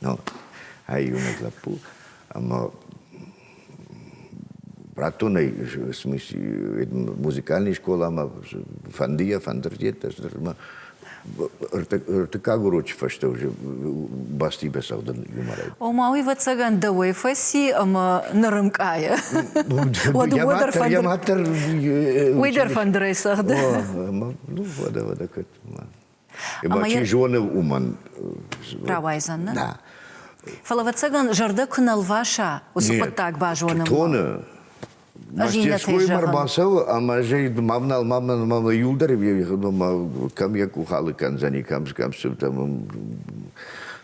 Ну, ӕй иунӕг лӕппу, ӕмӕ раттонӕй смысь музыкальный скъоламӕ фӕндыйӕ фӕндырдет ӕмӕ ӕртыккаг урочы фӕстӕ уже бӕсти бацӕгъдын юморӕй. Ома уый вӕццӕгӕн дӕуӕй фӕци ӕмӕ нырынкъайы. Я маттер. Уый дӕр фӕндырӕй цӕгъды. Ӕмӕ ну, вода, вода, кӕт. Ӕмӕ чи зоны, уымӕн рауайдзӕн, нӕ? Нӕ. Фӕлӕ, ӕвӕццӕгӕн, зӕрдӕ куы нӕ лваса уыцы хъуыддаг базонынмӕ. Тоны. Мастерскоймӕ ӕрбацӕуы ӕмӕ ӕз ӕй мавнал мавнал мавнал иуылдӕр кӕм йӕ къухалы кӕндзӕни, кӕм кӕм сыфтӕм.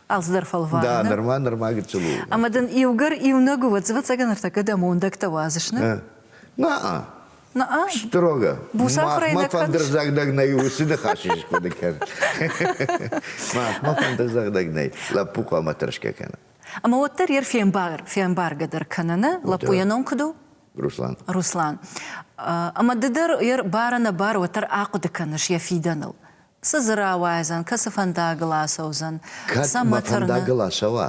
Алцыдӕр фӕлвары. Да, нырма нырма гыццыл у. Ӕмӕ дын иугӕр иунӕг уыд, ӕвӕццӕгӕн ӕртӕккӕ дӕ мондӕгтӕ уадзыс, нӕ? Нӕ. Строго. Махмӕ фӕндырдзӕгдӕг нӕй, уыцы ныхас хъуыды кӕн. Махмӕ фӕндырдзӕгдӕг нӕй. Лӕппу хъуамӕ тӕрсгӕ кӕна. Ӕмӕ уӕддӕр йӕ фембаргӕ дӕр кӕныны лӕппу йӕ ном куыд у? Руслан. Руслан. Ӕмӕ ды дӕр йӕ бар-ӕнӕбар уӕддӕр ахъуыды кӕныс йӕ фидӕныл. Цы дзы рауайдзӕн, кӕцы фӕндагыл ацӕудзӕн? Кӕд мӕ фӕндагыл ацӕуа?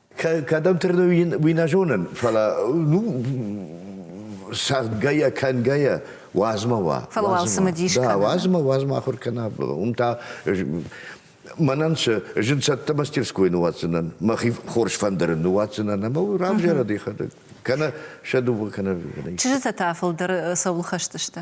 Кӕдӕм тырны, уый нӕ зонын, фӕлӕ ну, сӕггӕйӕ, кӕнгӕйӕ уадзмӕ уа. Фӕлӕ уал цымыдис кӕна. Да, уадзмӕ, уадзмӕ ахуыр кӕна. Уым та мӕнӕн цы зын цӕттӕ мастерской нуадздзынӕн, мӕхи хорз фӕндырын нуадздзынӕн ӕмӕ равзарӕд йӕхӕдӕг. Кӕнӕ сӕ дыууӕ кӕнӕ. Чызджытӕ та фылдӕр цӕуыл хӕсдзысты?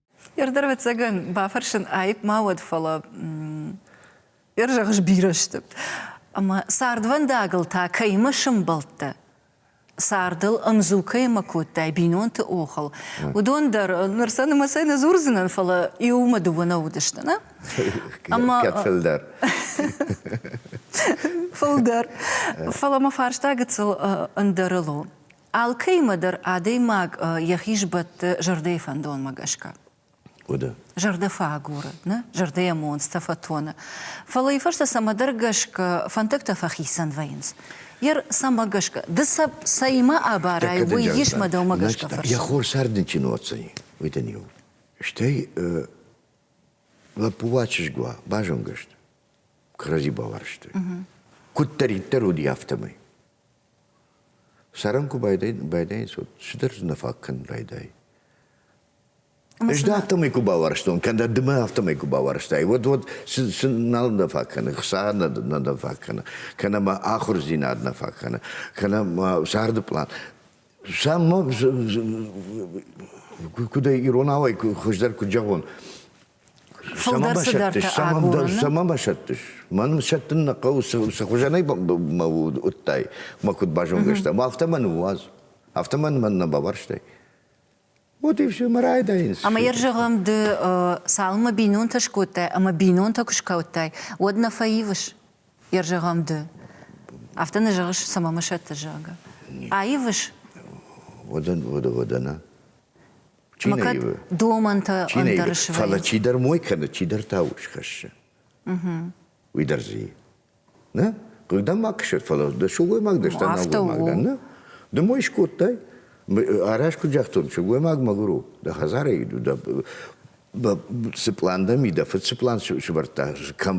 Ердӕр, ӕвӕццӕгӕн, бафӕрсын аипп ма уӕд, фӕлӕ ӕр зӕгъ сбирӕ сты. Ӕмӕ цардвӕндагыл та кӕимӕ сӕмбӕлдтӕ? Цардыл ӕмдзу кӕимӕ кодтай, бинонты охыл, уыдон дӕр ныр сӕ нымӕцӕй нӕ дзурдзынӕн, фӕлӕ иумӕ-дыууӕ нӕ уыдысты, нӕ? Ӕмӕ фылдӕр. Фылдӕр. Фӕлӕ мӕ фарста гыццыл ӕндӕрыл у. Алкӕимӕ дӕр адӕймаг йӕхи сбӕтты зӕрдӕйы фӕндонмӕ гӕсгӕ. Уыды. Зӕрдӕ фӕагуры, нӕ? Зӕрдӕйӕ монцтӕ фӕтоны. Фӕлӕ уый фӕстӕ цӕмӕдӕр гӕсгӕ фӕндӕгтӕ фӕхицӕн вӕййынц. Ер цӕмӕ гӕсгӕ, ды сӕ цӕимӕ абарай, уый ис мӕ дӕумӕ гӕсгӕ фӕрцы? Йӕ хорсӕрдын чи ноццӕйы, уый дын у. Стӕй лӕппу уӕ чызг уа, базонгӕ сты. Кӕрӕдзи бауарзтой. Куыддӕриддӕр уыди, афтӕмӕй. Цӕрын куы байдайынц, уӕд цыдӕр дзы нӕ фаг кӕнын райдайы. Ӕз дӕ афтӕмӕй куы бауарзтон, кӕнӕ ды мӕ афтӕмӕй куы бауарзтай, уӕд уӕд цы нал нӕ фаг кӕны, хца нӕ нӕ фаг кӕны, кӕнӕ ма ахуырдзинад нӕ фаг кӕны, кӕнӕ ма царды план. Сам ма куыдӕй иронау ӕй хуыздӕр куыд зӕгъон, Сӕмӕ басӕттыс, сӕмӕ басӕттыс. Мӕн сӕттын нӕ хъӕуы, цы хуызӕнӕй мӕ уыдтай, мӕ куыд базонгӕ стай. Афтӕ мӕн уадз. Афтӕ мӕн мӕн нӕ баварстай. Вот и все, мы райдаемся. Ӕмӕ йӕ зӕгъӕм, ды цалынмӕ бинонтӕ скодтай ӕмӕ бинонтӕ куы скодтай, уӕд нӕ фӕивыс? Йӕ зӕгъӕм, ды. Афтӕ нӕ зӕгъыс, цӕмӕ мӕ сӕтты, зӕгъгӕ. Аивыс? Уӕдӕ, уӕдӕ, уӕдӕ нӕ. Макӕд домӕнтӕ ӕндӕр свӕййы. Фӕлӕ чидӕр мой кӕны, чидӕр та ус хӕссы. Уый дӕр дзы и. Нӕ? Хъыгдам ма кӕсӕд, фӕлӕ дӕ сылгоймаг дӕ, стӕ нӕлгоймаг дӕ, нӕ? Ды мой скодтай? Арӕзт куыд загътон, сылгоймаг мӕгуыр у, дӕ хӕдзарӕй иду, дӕ цы план дӕ ми, дӕ фыдцы план сывӕрдта, кӕм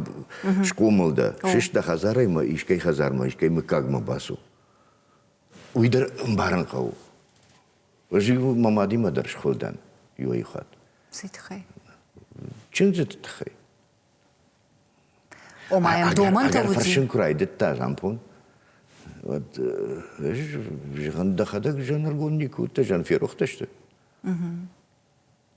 схъомыл дӕ, сыст дӕ хӕдзарӕй мӕ искӕй хӕдзармӕ, искӕй мыггагмӕ бацу. Уый дӕр ӕмбарын хъӕуы. Ӕз-иу мӕ мадимӕ дӕр схуыл дӕн иуӕй-иу хатт. Цы тыххӕй? Чындзыты тыххӕй. Ома йӕм домӕнтӕ уыди? Фӕрсын куы райдыдта Жампон, уӕд ӕз зӕгъын, дӕхӕдӕг зӕнӕргонд никуы уыдтӕ, зӕнферохтӕ сты.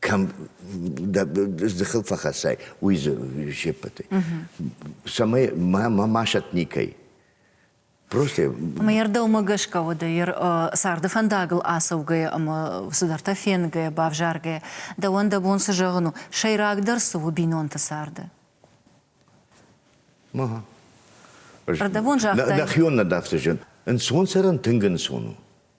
кӕм дӕ дзыхыл фӕхӕссай, уый дзы се ппӕтӕй. Цӕмӕй мӕ масӕт никӕй. Просто. Ӕмӕ йӕ рдӕумӕ гӕсгӕ уӕдӕ йӕ царды фӕндагыл ацӕугӕйӕ ӕмӕ цыдӕртӕ фенгӕйӕ, бавзаргӕйӕ, дӕуӕн дӕ бон цы зӕгъын у, сӕйрагдӕр цы у бинонты царды? Ӕрдӕбон загътай? Нӕхион нӕ дӕфтызын. Ӕнцон цӕрын тынг ӕнцон у.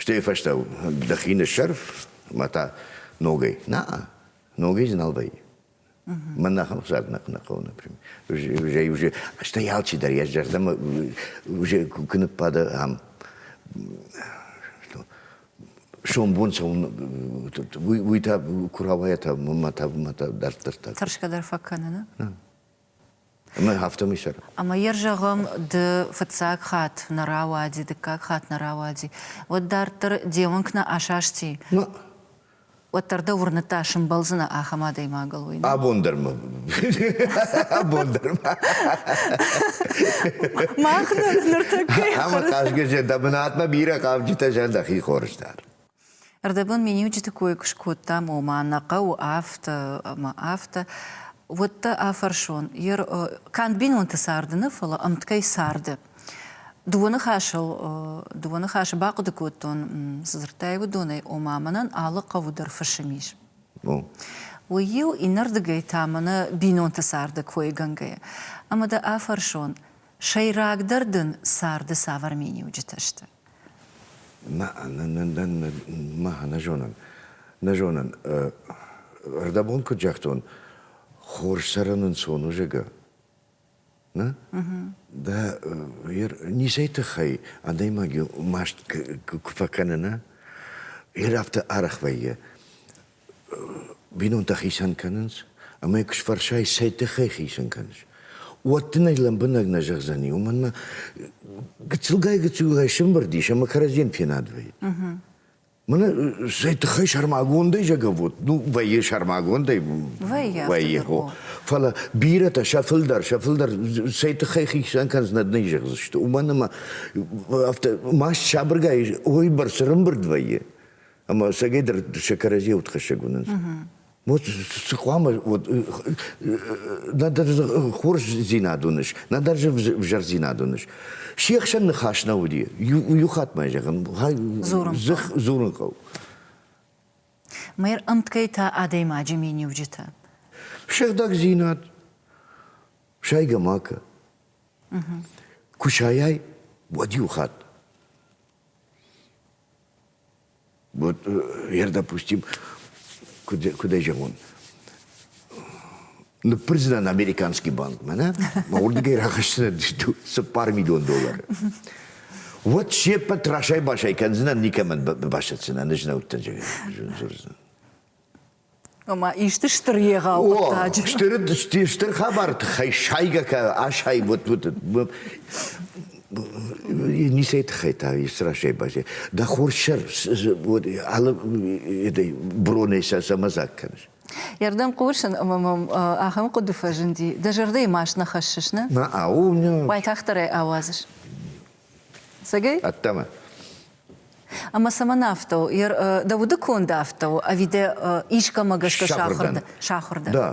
Стӕй фӕстӕ дӕхи ныссӕрф мӕ та ногӕй. На-а, ногӕй дзы нал вӕййы. Мӕн ахӕм хсад нӕ нӕ хъӕуы, например. Уже, уже, стӕй алчидӕр йӕ зӕрдӕмӕ уже куы ныббады ам. Сомбон уый та куравайӕ та мӕ та мӕ та дарддӕр та. Тӕрсгӕ дӕр фӕкӕны, нӕ? Ӕмӕ афтӕмӕй цӕры. Ӕмӕ йӕ зӕгъӕм, ды фыццаг хатт нӕ рауади, дыккаг хатт нӕ рауади, уӕд дарддӕр де уӕнг нӕ асасти? Ма. Уӕддӕр дӕ уырныдта, сымбӕлдзынӕ ахӕм адӕймагыл, уый? Абон дӕр ма. Абон дӕр ма. Мах ныр ныртӕккӕ. Ӕмӕ хъазгӕ зӕдӕ бынатмӕ бирӕ хъавджытӕ зӕн дӕхи хорз дар. Ӕрдӕбон миниуджыты кой куы скодтам, ома нӕ хъӕуы афтӕ ӕмӕ афтӕ, уӕд дӕ афӕрсон, йе канд бинонты царды нӕ, фӕлӕ ӕмткӕй царды. Дыууӕ ныхасыл, дыууӕ ныхасы бахъуыды кодтон, цы дзырдтай, уыдонӕй, ома мӕнӕн алы хъӕуы дӕр фысым ис. Уый-иу иннӕрдыгӕй та мӕнӕ бинонты царды койгӕнгӕйӕ. Ӕмӕ дӕ афӕрсон, сӕйрагдӕр дын царды цавӕр миниуджытӕ сты? Нӕ, нӕ, нӕ зонын, нӕ зонын. Ӕрдӕбон куыд загътон, хорз цӕрӕн ӕнцон у, зӕгъгӕ. Нӕ? Дӕ ницӕй тыххӕй адӕймаг маст куы фӕкӕны, нӕ? Йӕ афтӕ арӕх вӕййы. бинонтӕ хицӕн кӕнынц, ӕмӕ куы сфӕрсай, цӕй тыххӕй хицӕн кӕныс, уӕд дын ӕй лӕмбынӕг нӕ зӕгъдзӕни. Уымӕн ма гыццылгай-гыццылгай сӕмбырд ис ӕмӕ кӕрӕдзийӕн фенад вӕййы. Мӕнӕ цӕй тыххӕй сӕрмагондӕй зӕгӕвод, ну, вӕййы сӕрмагондӕй. Вӕййы. Вӕййы, хо. Фӕлӕ бирӕтӕ сӕ фылдӕр, сӕ фылдӕр цӕй тыххӕй хицӕн кӕнынц, нӕ нӕ зӕгъдзысты. Уымӕн ӕмӕ афтӕ маст сабыргай ой бӕрц рымбырд вӕййы. Ӕмӕ сагӕй дӕр сӕ кӕрӕдзийӕ удхӕссӕг уынынц. Вот цы хъуамӕ вот нӕдӕр хорздзинад уыныс, нӕдӕр взӕрдзинад уыныс. Се хсӕн ныхас нӕ уыди. Иу хатт ма зӕгъын, дзых дзурын хъӕу. Мэр ӕмткӕй та адӕймаджы миниуджытӕ. Сыгъдӕгдзинад, сайгамака. Кусайӕй уӕд иу хатт. Вот ер, допустим, куыд, куыд ӕй зӕгъон, ныппырдзынӕн американский банкмӕ, нӕ? Мӕ уырдыгӕй рахӕсдзынӕн цыппар миллион доллары. Уӕд се ппӕт расай-басай кӕндзынӕн, никӕмӕн бабасӕтдзынӕн, ӕз нӕ уыдтӕн, зӕгъын, зӕгъдзынӕн. ӕмӕ исты стыр егъау хъуыддаджы. Стыр стыр хабар тыххӕй сайгӕ кӕ асайы вот вот не сей тыххӕй та страшной базе. Да хорсер вот алы этой броней сӕ самозак кӕныс. Ердем хъусын ӕмӕ мӕм ахӕм хъуыды фӕзынди. Дӕ зӕрдӕйы маст нӕ хӕссыс, нӕ? Нӕ, ау, уайтагъддӕр ӕй ауадзыс. Цӕгӕй? Ӕддӕмӕ. Ӕмӕ цӕмӕн афтӕ у? Дӕ уды конд афтӕ у, ӕви дӕ искӕмӕ гӕсгӕ сахуыр дӕ? Сахуыр дӕ? Да.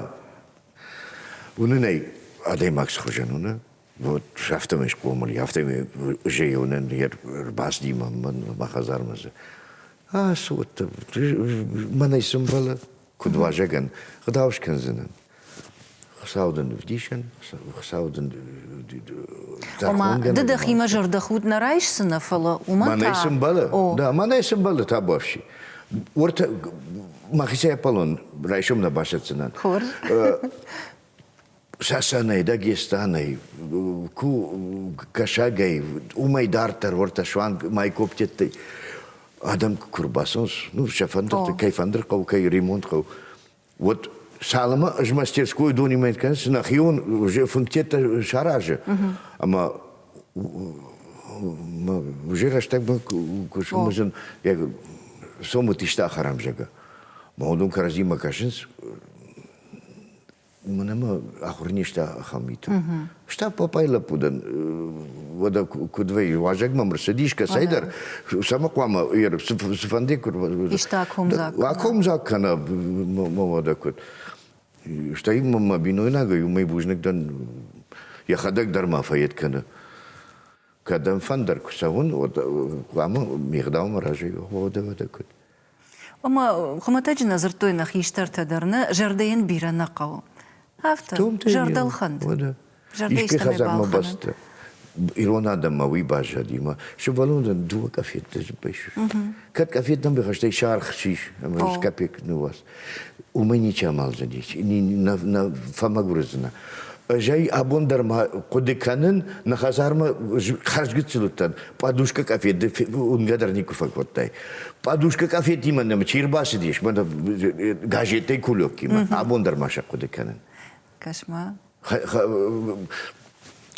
Уыны нӕй адӕймаг схуызӕн уыны. Вот афтӕмӕй схъомыл, афтӕмӕй зӕйы уынын йӕ рбацыди мӕ мӕ хӕдзармӕ. Ацу, мӕнӕй цы мбӕлы, Куыд уазӕгӕн гъдау скӕндзынӕн? Хуыцау дын ӕвдисӕн, Хуыцау дын Ома, ды дӕхимӕ зӕрдӕхуд нӕ райсдзынӕ, фӕлӕ уымӕн та... Мӕнӕй цы мбӕлы? Да, мӕнӕй цы мбӕлы, табуафси. Уӕртӕ мӕхицӕй Аполлон райсом нӕ басӕтдзынӕн. Хорз. сӕсӕнӕй, дӕ гестанӕй, ку кӕсагӕй, умӕй дарддӕр уортӕ суанг май коптеттӕй адӕмки ку рбацӕнс, ну сӕ фӕндӕртӕ, кӕй фӕндерхъӕу, кӕй ремонтхъӕу, уӕд цалынмӕ ӕз мӕ мастерской донимӕ кӕнис, нӕхион функтеттӕ саразы. Ӕма уже рӕстӕгмӕ кусумызын сомут иста хӕрам зӕгӕ. Ма уыдон кӕрӕдзимӕ кӕсынц, Уымӕн ӕмӕ ахуыр не сты ахӕм миты. Стӕп папайы лӕппудӕн уӕдӕ куыд вӕййы, уазӕг мӕм рцыди искӕцӕйдӕр, сӕ ма хъуамӕ йӕ цыфӕнды куыд иста комдзаг. Акомдзаг кӕнӕ мӕ уӕдӕ куыд. Стӕй мӕ бинойнагӕй уымӕй бузныг дӕн, йӕхӕдӕг дӕр ма фӕед кӕны. Кӕдӕм фӕндыр куы цӕуын, уӕд хъуамӕ ме гъдаумӕ разӕй уа, уӕдӕ уӕдӕ куыд. Ӕмӕ хуымӕтӕджы нӕ дзырдтой нӕ хистӕртӕ дӕр нӕ, зӕрдӕйӕн бирӕ нӕ хъӕуы. Афтӕ, зӕрдӕлхӕнд. Искӕй хӕдзармӕ бӕсты ирон адӕммӕ уый баззади, ӕмӕ сывӕллондӕн дыууӕ къафеттӕ байстой. Кӕд къафеттӕн бахастай саргъ сис, ӕмӕ капек ныууадз, уымӕй ничи амӕлдзӕнис, фӕмӕгуырдзынӕ. Зӕй абон дӕр ма хъуыды кӕнын, нӕ хӕдзармӕ хӕрзгыццыл уыдтӕн. Пъадушка къафет уынгӕ дӕр никуы фӕкодтай. Пъадушка къафетимӕ нӕм чи рбацыдис, мӕнӕ газеттӕй кулёкимӕ, абон дӕр ма сӕ хъуыды кӕнын. Кӕс-ма.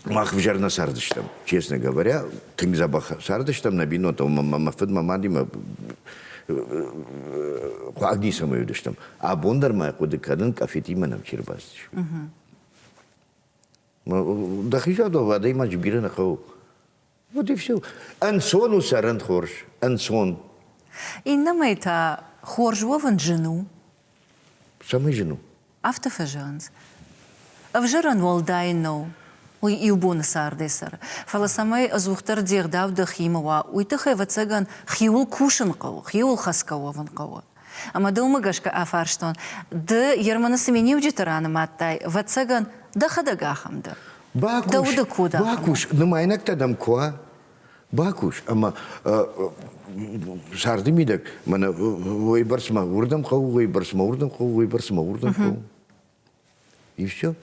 Мах взӕр нӕ цардыстӕм, честно говоря, тынг дзӕбӕх цардыстӕм нӕ бинонтӕ, мӕ фыд, мӕ мадимӕ хъуаг ницӕмӕй уыдыстӕм. Абон дӕр ма хъуыды кӕнын, къафетимӕ нӕм чи рбацыд. Дохизадов адӕймаджы бирӕ нӕ хъӕуы. Вот и все. Ӕнцон у цӕрын хорз. Ӕнцон. Иннӕмӕй та хорз уӕвын зын у. Цӕмӕй зын у? Афтӕ фӕзӕгъынц. Ӕвзӕрӕн уӕлдай нӕу. Уый иу боны цардӕй цӕры. Фӕлӕ цӕмӕй ӕдзухдӕр де гъдау дӕхимӕ уа, уый тыххӕй, ӕвӕццӕгӕн, хиуыл кусын хъӕуы, хиуыл хӕцгӕ уӕвын хъӕуы. Ӕмӕ дӕ уымӕ гӕсгӕ афарстон, ды Ерманы цы миниуджыты ранымадтай, ӕвӕццӕгӕн, дӕхӕдӕг ахӕм дӕ. Бакус, дӕ уды код ахӕм бакус, нымайнӕгтӕ дӕм куы уа, бакус ӕмӕ сӕрды мидӕг мӕнӕ уыйбӕрц мӕ уырдӕм хъӕуы, уыйбӕрц мӕ уырдӕм хъӕуы, уыйбӕрц мӕ уырдӕм хъӕуы. И все.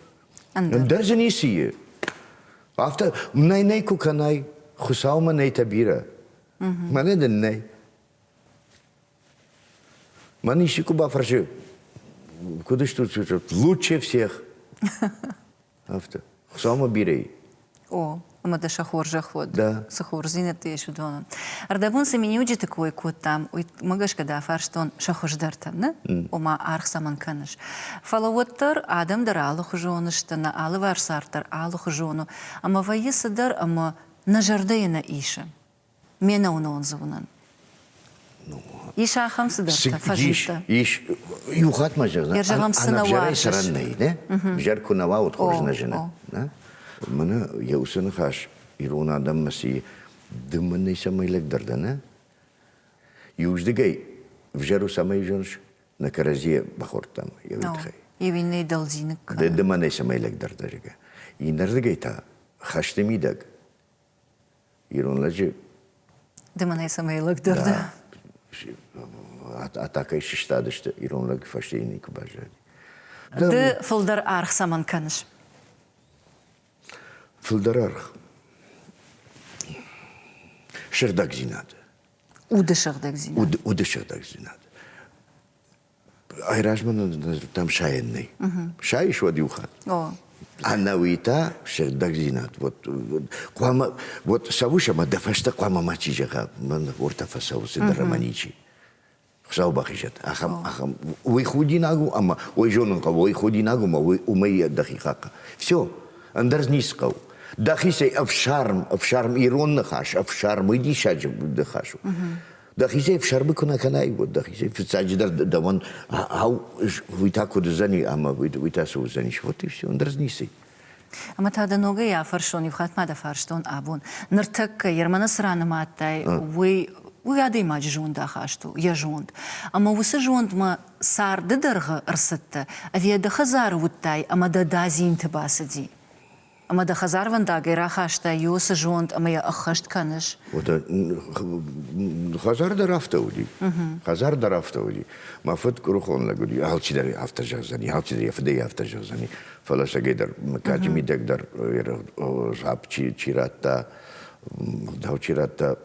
Ӕндӕр дзы ницы и. Афтӕ нӕй нӕй куы кӕнай, Хуыцаумӕ нӕй тӕ бирӕ. Мӕнӕ дын нӕй. Мӕн исчи куы бафӕрсы, куыд стут? Лучше всех. Афтӕ. Хуыцаумӕ бирӕ. О, ӕмӕ дӕ сӕ хорзӕх уӕд. Да. Цы хорздзинӕдтӕ ис уыдоны. Ӕрдӕбон цы миниуджыты кой кодтам, уымӕ гӕсгӕ дӕ фарстон сӕ хуыздӕртӕ, нӕ? Ома, аргъ цӕмӕн кӕныс? Фӕлӕ уӕддӕр адӕм дӕр алыхуызон сты, нӕ алыварс цард дӕр алыхуызон у, ӕмӕ вӕййы цыдӕр ӕмӕ нӕ зӕрдӕйы нӕ исы. Ме нӕуынон дзы уынын. Ис ахӕм цыдӕртӕ фӕзмиттӕ. Ис. Иу хатт ма зӕгъ, ӕнӕвзӕрӕй цӕрӕн нӕй, нӕ? Ӕвзӕр куы нӕ уа, уӕд хорз нӕ зыны. Мӕнӕ йӕ уыцы ныхас ирон адӕммӕ сси дымын ницӕмӕй лӕгдӕр дӕ, нӕ? Иуздыгӕй взӕр у цӕмӕй зоныс? Нӕ кӕрӕдзийӕ бахордтам йӕ уый тыххӕй. Иу иннӕйы дӕлдзиныг кӕны. Ды дымынӕй цӕмӕй лӕгдӕр дӕ, зӕгъгӕ. Иннӕрдыгӕй та хӕсты мидӕг ирон лӕджы. Ды мӕнӕй цӕмӕй лӕгдӕр дӕ? атакӕй сыстадысты, ирон лӕг фӕстейы никуы баззади. Ды фылдӕр аргъ цӕмӕн кӕныс? Фылдӕр аргъ. Сыгъдӕгдзинад. Уды сыгъдӕгдзинад. Уды, уды сыгъдӕгдзинад. Айразмӕ нын дзырдтам сайӕн нӕй. Сайыс уӕд иу хатт. Ӕнӕуи та сыгъдӕгдзинад вот хъуамӕ вот цӕуыс ӕмӕ дӕ фӕстӕ хъуамӕ мачи зӕгъа мӕн ортӕ фӕцӕуы цыдӕр ӕмӕ ничи. Хуыцау бахизӕд ахӕм ахӕм уый худинаг у ӕмӕ уый зонын хъӕуы уый худинаг у ӕмӕ уый уымӕй дӕхи хахъа. Все, ӕндӕр зын ницы хъӕуы. Дӕхицӕй ӕфсарм, ӕфсарм ирон ныхас, ӕфсарм уый диссаджы ныхас у. Дӕхицӕй фсӕрбы куы нӕ кӕнай, уӕд дӕхицӕй фыццаджыдӕр дӕуӕн ау уый та куыд уыдзӕни ӕмӕ уый та цы уыдзӕнис. Вот и все, ӕндӕр ницы. Ӕмӕ та дӕ ногӕй афӕрсон, иу хатт ма дӕ фарстон абон, ныртӕккӕ Ерманы цы ран нымадтай, уый уый адӕймаджы зондахаст у, йӕ зонд. Ӕмӕ уыцы зондмӕ царды дӕргъы ӕрцыдтӕ, ӕви ӕдӕ хӕдзары уыдтай ӕмӕ дӕ дадзинты бацыди? Ӕмӕ дӕ хӕдзарвӕндагӕй рахастай йӕ уыцы зонд ӕмӕ йӕ ӕххӕст кӕныс? Хӕдзар дӕр афтӕ уыди. Хӕдзар дӕр афтӕ уыди. Мӕ фыд къуырхон лӕг уыди. Алчидӕр афтӕ зӕгъдзӕни, алчидӕр йӕ фыдӕй афтӕ зӕгъдзӕни. Фӕлӕ сагӕй дӕр, мыггаджы мидӕг дӕр зӕхх чи радта, дау чи радта,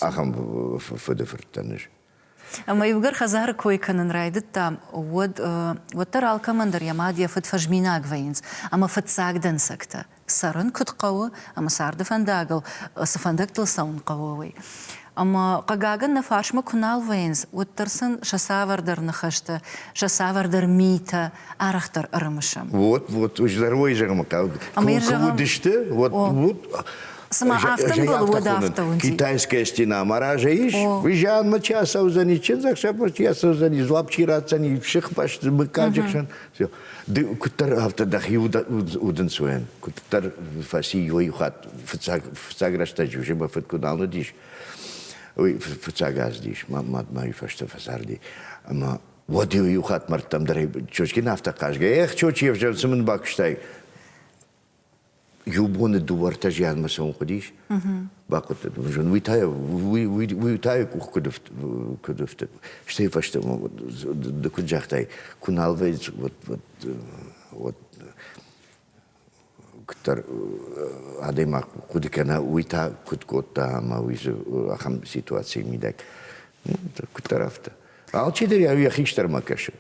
ахӕм фыды фырттӕ низ. Ӕмӕ иугӕр хӕдзары кой кӕнын райдыдта, уӕд уӕддӕр алкӕмӕн дӕр йӕ мад, йӕ фыд фӕзминаг вӕййынц ӕмӕ фыццаг дӕнцӕгтӕ цӕрын куыд хъӕуы ӕмӕ царды фӕндагыл цы фӕндӕгтыл цӕуын хъӕуы, уый. Ӕмӕ, хъыгагӕн, нӕ фарсмӕ куы нал вӕййынц, уӕддӕр сын сӕ цавӕрдӕр ныхӕстӕ, сӕ цавӕрдӕр митӕ арӕхдӕр ӕрымысӕм. Вот, вот, уыздӕр уой зӕгъынмӕ хъӕуы. Куы уыдысты, вот, вот, Цыма автомобил уӕд автоуын. Китайская стена маража ис, вы же анмы чи асаудзӕни, чи заксапыр чи асаудзӕни, злап чи ратдзӕни, шихпашты быккаджыхсӕн. Все. Ды куыддӕр афтӕ дӕхи удынцуен, куыддӕр фӕци иуӕй хатт фыццаг фыццаг рӕстӕджы уже мӕ фыд куы нал уыдис, уый фыццаг аздис, мадмӕ уый фӕстӕ фӕцарди. Ӕмӕ уӕд иу хатт мӕрдтӕм дӕр Чочкин афтӕ хъазгӕ, эх, Чочи, ӕвзӕр цы мын бакуыстай? иу боны дыууӕртӕ зианмӕ цӕуын хъуыдис. Бахъуыдтат мызон. Уый та уый уый уый та йӕ къух куыд куыд ӕфтыд. Стӕй фӕстӕмӕ куыд загътай, куы нал вӕййы вот вот вот куыддӕр адӕймаг хъуыды кӕна, уый та куыд кодта ӕмӕ уый дзы ахӕм ситуацийы мидӕг. Ну, куыддӕр афтӕ. Алчидӕр йӕ хистӕрмӕ кӕсы.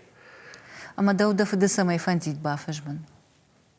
Ӕмӕ дӕу дӕ фыды цӕмӕй фӕндид бафӕзмын?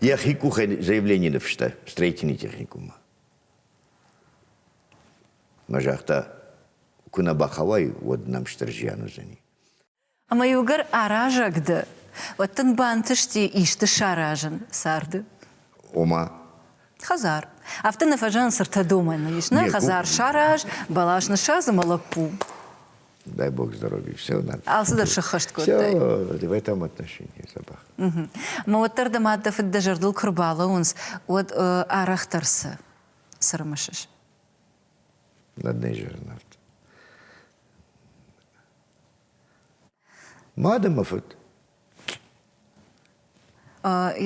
Я хикухен заявление напишите, встретите техникума. Мă jahta kuna бахавай уӕд намстыр зиан уыдзӕни. Ӕмӕ иугӕр аразӕг дӕ, уӕд дын бантысти исты саразын царды? Ома? Хӕдзар. Афтӕ нӕ фӕзӕн цыртӕ домӕны ис. Нӕ хӕдзар сараз, бӕлас ныссадзы мӕ лӕппу. Дай бог здоровья, все нормально. Алцыдӕр сыххӕст кодтай. Все в этом отношении собак. Угу. Мӕ уӕддӕр дӕ мад дӕ фыд дӕ зӕрдыл куы рбалӕууынц, уӕд арӕхдӕр цы цы рымысыс? Одной жернард. Мады мӕ фыд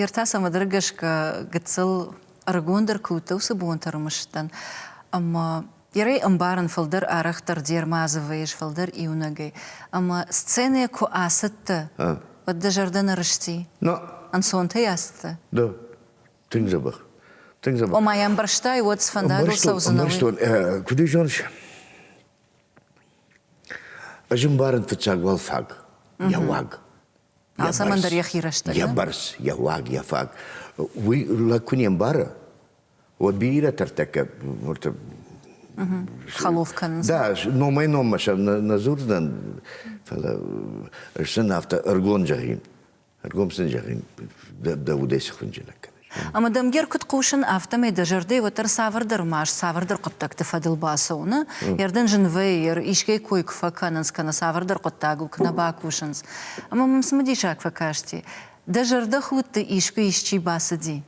Ертасӕмӕ дӕр гӕсгӕ гыццыл ӕрыгондӕр куы уыдтӕ уыцы бонты ӕрмӕстӕн. Ӕмӕ йӕрӕй ӕмбарын фылдӕр арӕхдӕр де рмадзы вӕййыс фылдӕр иунӕгӕй. Ӕмӕ сценӕ куы ацыдтӕ, уӕд дӕ зӕрдӕ нӕ рысти? Ӕнцонтӕй ацыдтӕ? Да. Тынг дзӕбӕх. Тынг дзӕбӕх. Ома йӕ ӕмбӕрстай, уӕд сфӕндагыл цӕудзынӕ, уый? Ӕмбӕрстон. Куыд ӕй зоныс? Ӕз ӕмбарын фыццаг уал фаг, йӕ уаг. Алцӕмӕндӕр йӕхи рӕстӕг. Йӕ бӕрц, йӕ уаг, йӕ фаг. Уый лӕг куы не мбары, уӕд бирӕтӕ ӕртӕккӕ уырты Хӕлоф кӕнынц. Да, номӕй-номмӕ сӕ нӕ дзурдзынӕн, фӕлӕ сын афтӕ ӕргон зӕгъин. Ӕргом сын зӕгъин, дӕ, дӕ удӕй цы хынджылӕг кӕныс? Ӕмӕ дӕм ге ркуыд хъусын, афтӕмӕй дӕ зӕрдӕ уӕддӕр цавӕрдӕр маст, цавӕрдӕр хъуыддӕгты фӕдыл бацӕуыны ердӕн зын вӕййы, искӕй кой куы фӕкӕнынц кӕнӕ цавӕрдӕр хъуыддагыл куы нӕ бакусынц. Ӕмӕ мӕм цымыдисаг фӕкасти, дӕ зӕрдӕхудты искуы исчи бацыди?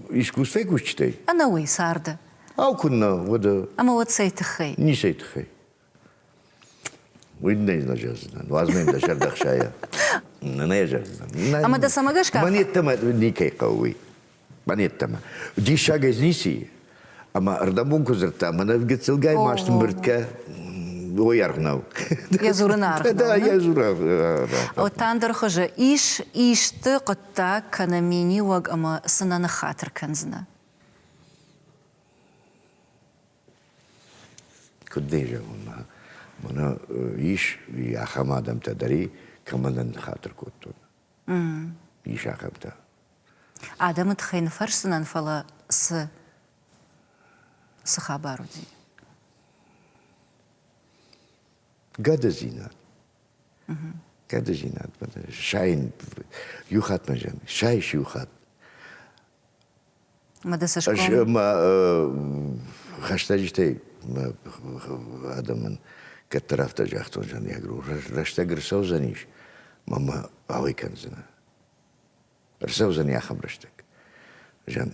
Искусствӕйы кусджытӕй? Ӕнӕуый, царды. Ау, куыннӕ, уӕдӕ? Ӕмӕ уӕд цӕй тыххӕй? Ницӕй тыххӕй. Уый нӕ зӕгдзынӕн. Уадз-ма дӕ сӕр дӕхсайа. Нӕ зӕгдзынӕн. Ӕмӕ дӕ цӕмӕ гӕсгӕ? Мӕн йеддӕмӕ никӕй хъӕуы уый. Мӕн йеддӕмӕ. Диссаг ӕз ници. Ӕмӕ ӕрдӕбон куы дзырдта, мӕнӕ гыццылгай маст мбырдкӕ, ой аргъ нӕу. Йӕ дзурын аргъ нӕу. Да, йӕ дзурын. Оттандӕр хуызы ис исты хъуыддаг кӕнӕ миниуӕг ӕмӕ цы нӕ ныххатыр кӕндзынӕ? Куыд дын зӕгъын, мӕнӕ ис ахӕм адӕмтӕ дӕр, кӕмӕн ныххатыр кодтон. Ис ахӕмтӕ. Адӕмы тыххӕй ныфӕрсдзынӕн, фӕлӕ цы? Цы хабар уыди? Гӕдыдзинад. Гӕдыдзинад сайын иу хатт мӕ зӕгъын, сайыс иу хатт. Мадасашком. Хӕстӕджытӕй адӕмӕн кӕддӕр афтӕ загътон Жаньягру, рӕстӕг ӕрцӕудзӕнис, мамӕ ауӕй кӕндзынӕ. Ӕрцӕудзӕни ахӕм рӕстӕг. Жан,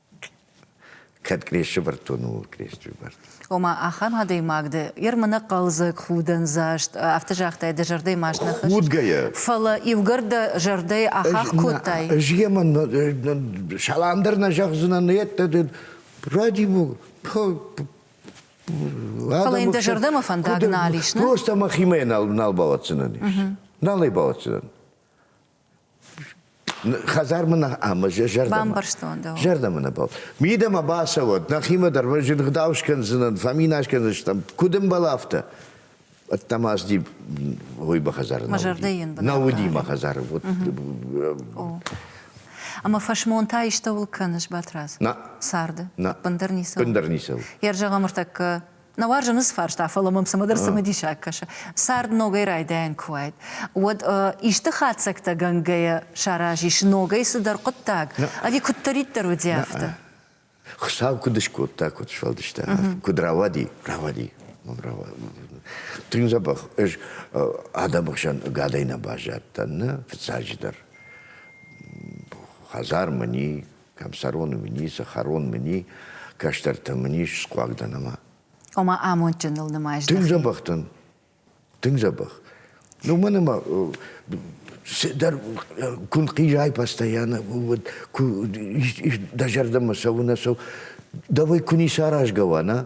Кӕд къресты бӕрдтон, ууыл къресты бӕрдтон. Ома, ахӕм адӕймаг дӕ, йе рмынӕг хъӕлдзӕг, худӕндзаст, афтӕ загътай, дӕ зӕрдӕйы ма зын хӕсыс. Худгӕйӕ. Фӕлӕ иугӕр дӕ зӕрдӕйы ахахх кодтай. Ӕз йемӕ салам дӕр нӕ зӕгъдзынӕн, йеддӕ ради Фӕлӕ йын дӕ зӕрдӕмӕ фӕндаг нал ис, не? Просто мӕхимӕ нал бауадздзынӕн ис. Нал ӕй бауадздзынӕн. Хӕдзармӕ нӕ ӕмӕ зӕрдӕ. Бамбӕрстон дӕ. Зӕрдӕмӕ нӕ бау. Мидӕмӕ бацӕуӕд, нӕхимӕ дӕр мӕ зын гъдау скӕндзынӕн, фӕминас кӕндзыстӕм. Куыд ӕмбӕл афтӕ? Ӕддӕмӕ аз ди ой ба хӕдзар Мӕ зӕрдӕ йын бынат Нау уыди мӕ хӕдзар. Ӕмӕ фӕсмон та истӕуыл кӕныс, Батрадз? Нӕ. Царды? Нӕ. Бындыр ницӕуыл? Бындыр ницӕуыл. Йӕ рзӕгъӕм ӕртӕккӕ Нӕ уарзын ныцы фарста, фӕлӕ мӕм цымыдӕр цымыдисаг кӕсы. Цард ногӕй райдайӕн куы уайд, уӕд исты хатдзӕгтӕ гӕнгӕйӕ сараз ис ногӕй цыдӕр хъуыддаг, ӕви куыддӕриддӕр уыди, афтӕ? Хуыцау куыд скодта, куыд сфӕлдыста, куыд рауади, рауади, мӕм рауади. Тынг дзӕбӕх, ӕз адӕмы хсӕн ӕгадӕй нӕ баззадтӕн, нӕ фыццаджыдӕр хӕдзар мын и, Кӕмсӕрон мын и, сахарон мын и, кӕстӕртӕ мын ис схъуаг дӕн ӕмӕ. Ома амондджыныл нымайыс? Тынг дзӕбӕх дӕн. Тынг дзӕбӕх. Ну, мӕн ӕмӕ дӕр куы хъизай постоянно вот дӕ зӕрдӕмӕ цӕуы нӕ цӕу, давай куы ницы аразгӕ уа, на?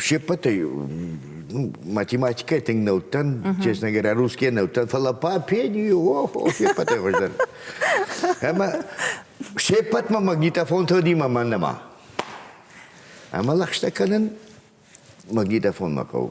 се ппӕтӕй ну, математикӕйы тынг нӕ уыдтӕн, честно говоря, русские нӕ уыдтӕн, фӕлӕ по пению, о, о, се ппӕтӕй хуыздӕр. Ӕмӕ се ппӕтмӕ магнитофон тыгъдимӕ мӕ нӕма. Ӕмӕ лӕгъстӕ кӕнын магнитофонмӕ хъӕуы.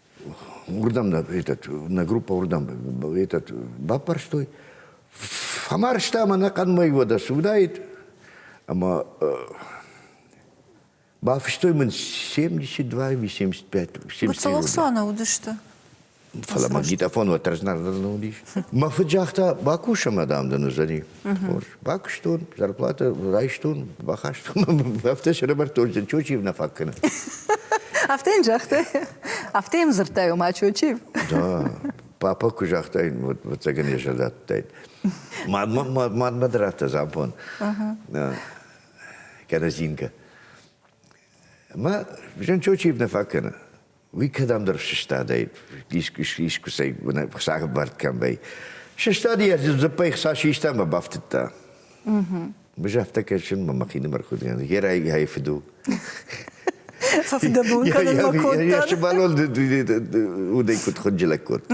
уырдӕм этот, нӕ группа уырдӕм этот, баппӕрстой, фӕмарста ӕмӕ нӕ хъӕдмӕ уӕдӕ суыдаид, ӕмӕ бафыстой мын 72 или 75. 71. Целоксаны уыдысты? Фӕлӕ магнитофон уӕд разнӕр дӕр не уыдис. Мӕ фыд загъта, бакуса, мадам, дын уыдзӕни. Хорз. Бакуыстон, зарплатӕ райстон, бахастон, афтӕ сӕрӕвӕрдтон, Чочиев нӕ фаг кӕны. Афтӕ йын загътай? Афтӕ йын дзырдтай, ома Чочиев? Да, папа куы загътаин, ӕвӕццӕгӕн йӕ зӕрдӕ адтаид. Мадмӕ дӕр афтӕ забон. Кӕнӕ Зинка. Мӕ Жан Чочиев нӕ фаг кӕны. Уый кӕдӕмдӕр сыстадӕй, искусӕй сагбард кӕмбӕй. Сыстади йӕ дзыппӕй хца систа ӕмӕ бафтыдта. Быз афтӕ кӕсын мӕ мӕхинымӕр куыдгӕн. Гӕ райгай фыду. Фӕфыдӕбон кӕнын мӕ кодта. Йӕ сывӕллон удӕй куыд хынджылӕг кодта.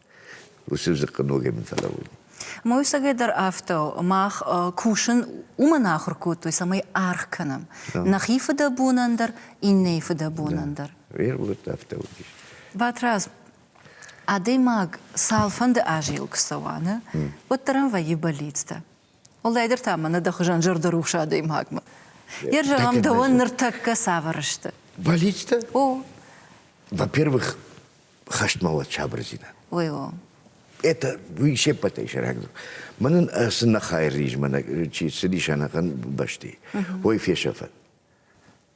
Мойсагӕй дӕр афтӕ у. Мах кусын уымӕн ахуыр кодтой, цӕмӕй аргъ кӕнӕм нӕхи фыдӕбонӕн дӕр, иннӕйы фыдӕбонӕн дӕр. Батрадз, адӕймаг цалфӕнды азӕй куы цӕуа, нӕ, уӕддӕр ӕм вӕййы бӕллицтӕ. Уӕлдайдӕр та мӕнӕ дӕ хуызӕн зӕрдӕрухс адӕймагмӕ. Йе рзӕгъӕм дӕуӕн ныртӕккӕ цавӕр сты? Бӕллицтӕ? О. Во-первых, хӕстмӕллад сабырдзинад. Ой, о. Это вы все потрясаете. Манын сын хайрриз мӕнӕ чи цыдис ӕнӕхъӕн бӕсти. Ой фесӕфӕд.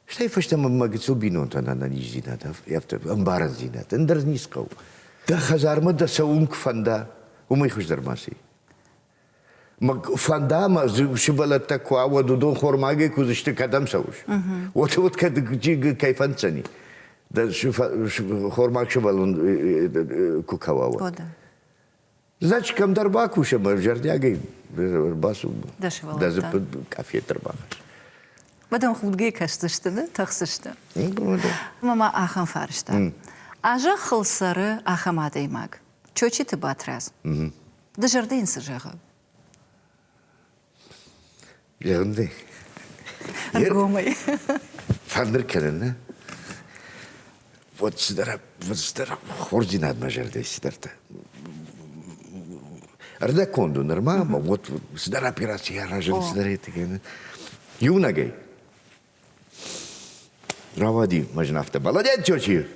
Стӕй фӕстӕмӕ мӕ гыццыл бинонтӕн ӕнӕниздзинад, ӕмбарындзинад ӕндӕр низ хъӕуы. Дӕ хӕдзармӕ дӕ цӕуын куы фӕнда, уымӕй хуыздӕр ма ци. фӕнда ӕмӕ сывӕллӕттӕ куы ауӕд уыдон хормагӕй куы уыдзысты кӕдӕм цӕуыс уӕд уӕд кӕд кӕй фӕнддзӕни дӕ хормаг сывӕллон куы кӕуа значит кӕмдӕр бакус ӕмӕ зӕрдиагӕй бацу дӕ дзыппы къафет ӕрбахӕсс уӕдӕм худгӕ кӕсдзысты ды тӕхдзысты ӕмӕ ма ахӕм фарста а зӕххыл цӕры ахӕм адӕймаг Чочиты Батрадз. Дызӕрды йын цы зӕгъы? Егъынды. Ӕргомӕй. Фӕндыр кӕнын, нӕ? Вот сидара, вот сидара, ординат мой жерде сидarte. Ӕрдӕконд у нырма, ӕмӕ вот сидара операция араžын сидары тыгӕны. Юнагай. Равади, мажна авто. Молодец, тёчи!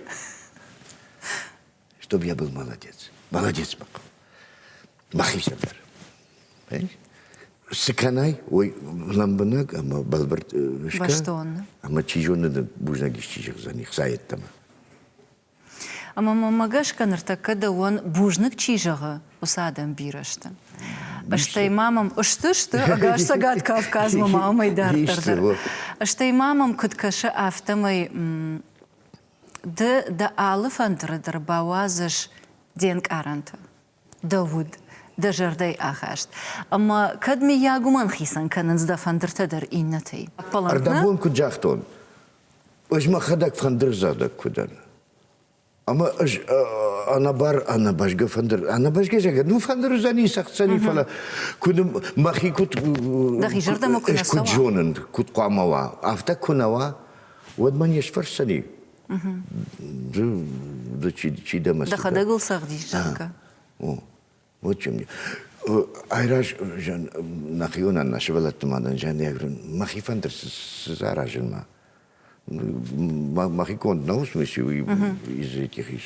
чтобы я был молодец. Молодец, Баков. Махи сӕндӕр. Цы кӕнай, ой лӕмбынӕг ӕмӕ бӕлвырд сты. Ӕмӕ чи зоны бузнаг исчи зӕгъдзӕни хца йеддӕмӕ. Ӕмӕ мӕ гӕсгӕ ныртӕккӕ дӕуӕн бузныг чи зӕгъы, уыцы адӕм бирӕ сты. Стӕй ма мӕм сты сты ӕгас Цӕгат Кавказмӕ ма амӕй дарддӕр дӕр. Стӕй ма мӕм куыд кӕсы, афтӕмӕй Ды дӕ алы фӕндыры дӕр бауадзыс де нкъарӕнты, дӕ уд, дӕ зӕрдӕйы ахаст. Ӕмӕ кӕд, мыййаг, уымӕн хицӕн кӕнынц дӕ фӕндыртӕ дӕр иннӕтӕй? Ӕрдӕбон куыд загътон, ӕз мӕхӕдӕг фӕндырдзагъдӕг куы дӕн. Ӕмӕ ӕз ӕнӕбар ӕнӕбӕзгӕ фӕндыр, ӕнӕбӕзгӕ зӕгъӕн, ну фӕндыр уыдзӕни, сӕгъдзӕни, фӕлӕ куыд мӕхи куыд. Дӕхи зӕрдӕмӕ куы куыд зонын, куыд хъуамӕ уа, афтӕ куы нӕ уа, уӕд мӕн не сфӕрсдзӕни ды чи дӕ мӕ дӕхӕдӕг ыл цӕгъдис зӕгъгӕ вот чем дело айразӕн нӕхионӕн нӕ сывӕллӕтты мадӕн зӕнӕгрын мӕхи фӕндыр саразынмӕ мӕхи конд на усмыси из этих ис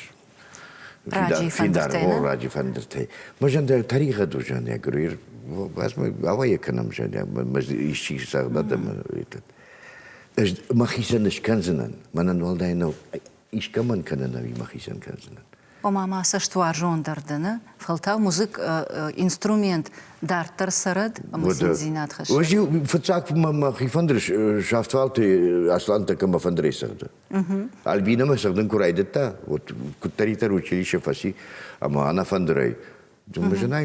ради фӕндыртӕй ради фӕндыртӕй мажандӕ тариха дужанӕ грир вас мы авая кынам жаня мы исчи сагладам этот махисен ышканзынан манан валдайнау ишкаман кананави махисен канзынан ома ма цӕстуарзондӕр дӕны фӕлтау музык инструмент дарддӕр цӕрӕд ӕмӕ циндзинад хӕссӕд. Уӕз фыццаг мӕ хифӕндыр сафтвалты аслантӕ кӕмӕ фӕндырӕй цӕгъды. Альбинӕмӕ цӕгъдын куы райдыдта, вот куыддӕриддӕр училище фӕци, ӕмӕ ӕнӕфӕндырӕй мӕ зынӕй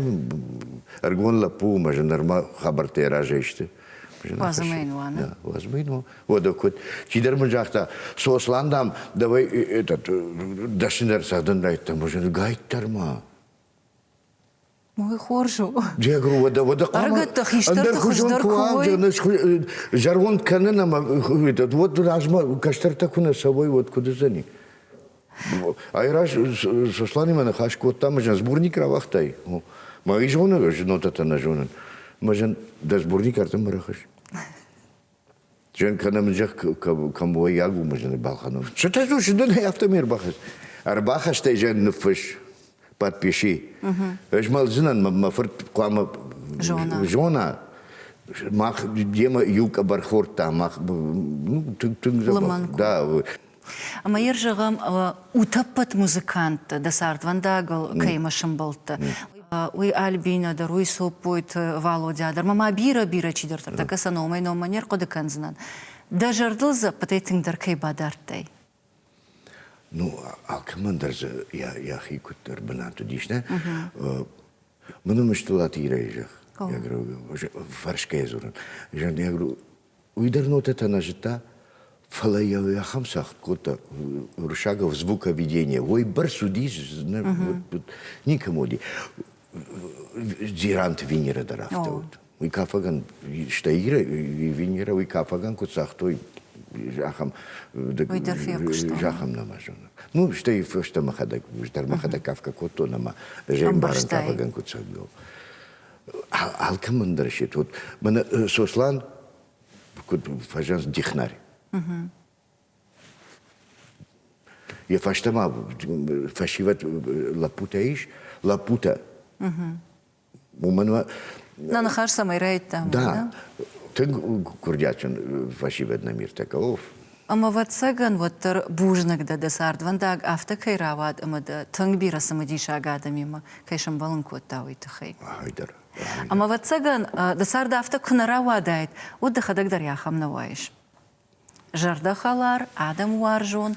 ӕргон лӕппу мӕ зынармӕ хабӕрттӕ разӕй сты. Уазымӕ йын уаны? Уазымӕ йын уӕдӕ куыд. Чидӕр мын загъта, Сослан, дам, давай этот дӕсны дӕр цӕгъдын райдта, мӕ зын гайттӕр ма. Уый хорз у. Джегру, уӕдӕ, уӕдӕ зӕронд кӕнын ӕмӕ уӕд размӕ кӕстӕртӕ куы нӕ цӕуой, уӕд куыд уыдзӕни? Айраз Сосланимӕ ныхас кодта, мӕ зын сборник рауагътай. Мӕ изоны знонтӕ нӕ зонын. Мӕ зын дӕ сборник ардӕм барахыс. Жен кӕнӕмзӕх кӕмоййаг уымы зыны балхӕнон. Сытӕ у сыдын афтӕ ме рбахӕс. Ӕрбахастӕй жен ныффысс, подпиши. Ызмӕлдзынӕн мӕ фырт хъуамӕ зона. Зона. Мах демӕ иу къӕбӕр хордта, мах ну, тынг тынг зӕгъ. Да. Ӕмӕ йыр зӕгъӕм, утӕппӕт музыканттӕ дӕ цардвӕндагыл кӕимӕ сымбӕлдтӕ, уый Альбинӕ дӕр, уый Соппойты Валодя дӕр, ма бирӕ-бирӕ чидӕртӕ тӕккӕ сӕ номӕй-номмӕ не рхъуыды кӕндзынӕн, дӕ зӕрдыл дзӕппытӕй тынгдӕр кӕй бадардтай? Ну, алкӕмӕн дӕр дзы йӕхи куыддӕр бынат уыдис, нӕ? Мын уым Столаты Ирӕйы зӕгъ. Фӕрсгӕйӕ дзурын. Уый дӕр нотӕтӕ нӕ зыдта, фӕлӕ йӕ ахӕм цагъд кодта Рушагов звук объединения. Ой, бӕрц уыдис, никому уыди. Дзиранты Венера дӕр афтӕ уыд. Уый кафӕгӕн, стӕй Иры Венера уый кафӕгӕн куыд цагътой, ахӕм зӕххам нӕма зонын. Ну, стӕй фӕстӕ мӕхӕдӕг, дӕр мӕхӕдӕг кафгӕ кодтон ӕмӕ Зӕймарын кафӕгӕн куыд цаг алкӕмӕн дӕр се вот мӕнӕ Сослан куыд фӕзӕнц дихнарь йӕ фӕстӕмӕ фӕсивӕд лӕппутӕ ис лӕппутӕ уымӕн нӕ ныхас цӕмӕй райдта да тынг курдиатджын фӕсивӕд номиртӕ кауф Ӕмӕ, ӕвӕццӕгӕн, уӕддӕр бузныг дӕ, дӕ цардвӕндаг афтӕ кӕй рауад ӕмӕ дӕ тынг бирӕ цымыдисаг адӕмимӕ кӕй сӕмбӕлын кодта, уый тыххӕй. Ай дӕр. Ӕмӕ, ӕвӕццӕгӕн, дӕ цард афтӕ куы нӕ рауадаид, уӕд дӕхӕдӕг дӕр ахӕм нӕ уаис. Зӕрдӕхӕлар, адӕмуарзон,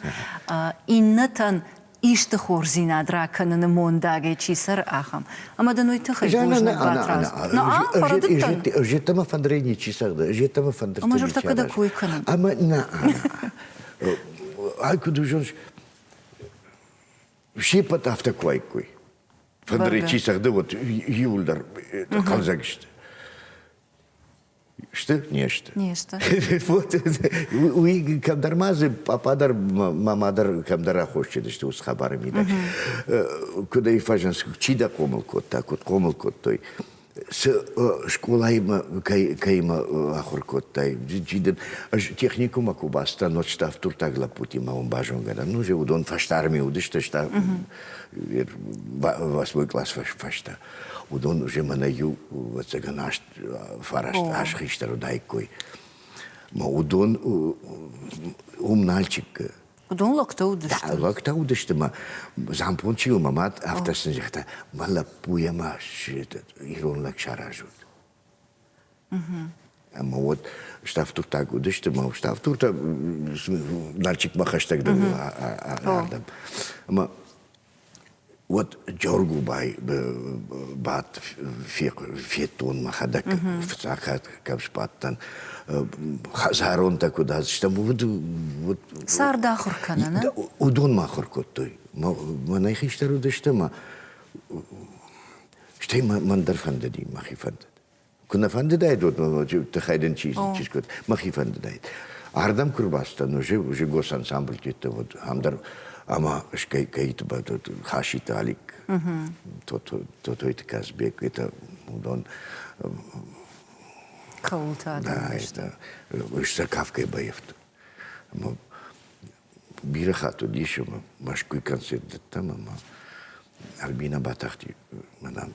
иннӕтӕн исты хорздзинад ракӕныны мондагӕй чи цӕры, ахӕм. Ӕмӕ дын уый тыххӕй бузныг батрадзон. Жетӕмӕ фӕндырӕй ничи цӕгъды, жетӕмӕ фӕндыртӕ Ӕмӕ журтӕ кӕдӕг кой кӕнӕм. Ӕмӕ нӕ, ай куыд узон, все под афтӕ куаиккой. Фӕндырӕй чи цӕгъды, вот иуылдӕр хъӕлдзӕг сты. Сты? Не сты. Не сты. Вот уи кӕмдӕр ма дзы папа дӕр, мама дӕр кӕмдӕр аххосджыдысты ус хабары мидӕг. Куыд ӕй фӕзынс, чи дӕ хъомыл кодта, куыд хъомыл кодтой. Цы скъолаимӕ кӕимӕ ахуыр кодтай, чи дын ӕз техникуммӕ куы бацыдтӕн, отставтуртаг лӕппутимӕ уым базонгӕ дӕн. Ну, же уыдон фӕстармӕ уыдысты, стӕ восьмой класс фӕстӕ. Уыдон уже мӕнӕ иу, ӕцӕгӕн, аст фараст аз хистӕр уыдаиккой. Мӕ уыдон уым Нальчикы Уыдон лӕгтӕ уыдысты. Да, лӕгтӕ уыдысты мӕ Зампон чи у, мӕ мад афтӕ сын загъта, мӕ лӕппуйӕ ма ирон лӕг саразут. Ӕмӕ вот штафтуртаг уыдысты, мӕ штафтуртӕ Нальчикмӕ хӕстӕгдӕр ардӕм. Ӕмӕ Уӕд Джоргубай бадт, федтон мӕхӕдӕг фыццагхатт кӕм сбадтӕн. Зӕрондтӕ куыд уыдыстӕм, уыд. Цард ахуыр кӕнӕ, нӕ? Уыдонмӕ ахуыр кодтой. Мӕнӕй хистӕр уыдысты ӕмӕ стӕй мӕн дӕр фӕндыди мӕхи фӕндыд. Куы нӕ фӕндыдаид уӕд ноджы тыххӕй дын чи чи скъуыд, мӕхи фӕндыдаид. Ардӕм куы рбацыдтӕн, уже уже госансамбль тетте вот ам дӕр ӕмӕ кӕй кӕйты хаситы Алик, Тотойты Казбек, это уыдон хъӕуылтӕ да, это выставкой боевт. Бирӕ хатт уыдис ӕмӕ Мӕскуй концерт дыдтам ӕмӕ Альбина Батахти мӕнӕн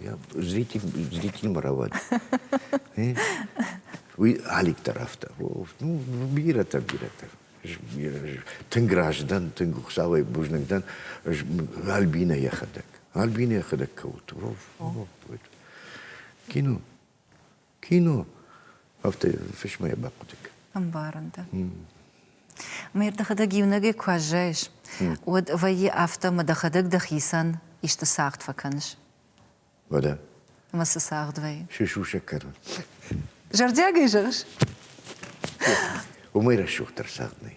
Я зритель, зритель моровать. Уый алик тарафта. Ну, бирӕтӕ, бирӕтӕ. Тынг раздӕн, тынг Хуцауӕй бузныг дӕн Альбина Яхадак. Альбина Яхадак кауты. Кино. Кино. Афтӕ фысмӕ йӕ бахъуыдыг. Ӕмбарын дӕ. Мӕ дӕхӕдӕг иунӕгӕй куы аззайыс, уӕд вӕййы афтӕ, мӕ дӕхӕдӕг дӕхицӕн исты цагъд фӕкӕныс. Уӕдӕ. Ӕмӕ цы цагъд вӕййы? Се сусӕг кӕрон. Зӕрдиагӕй зӕгъыс? Уымӕй рӕсугъддӕр цагъд нӕй.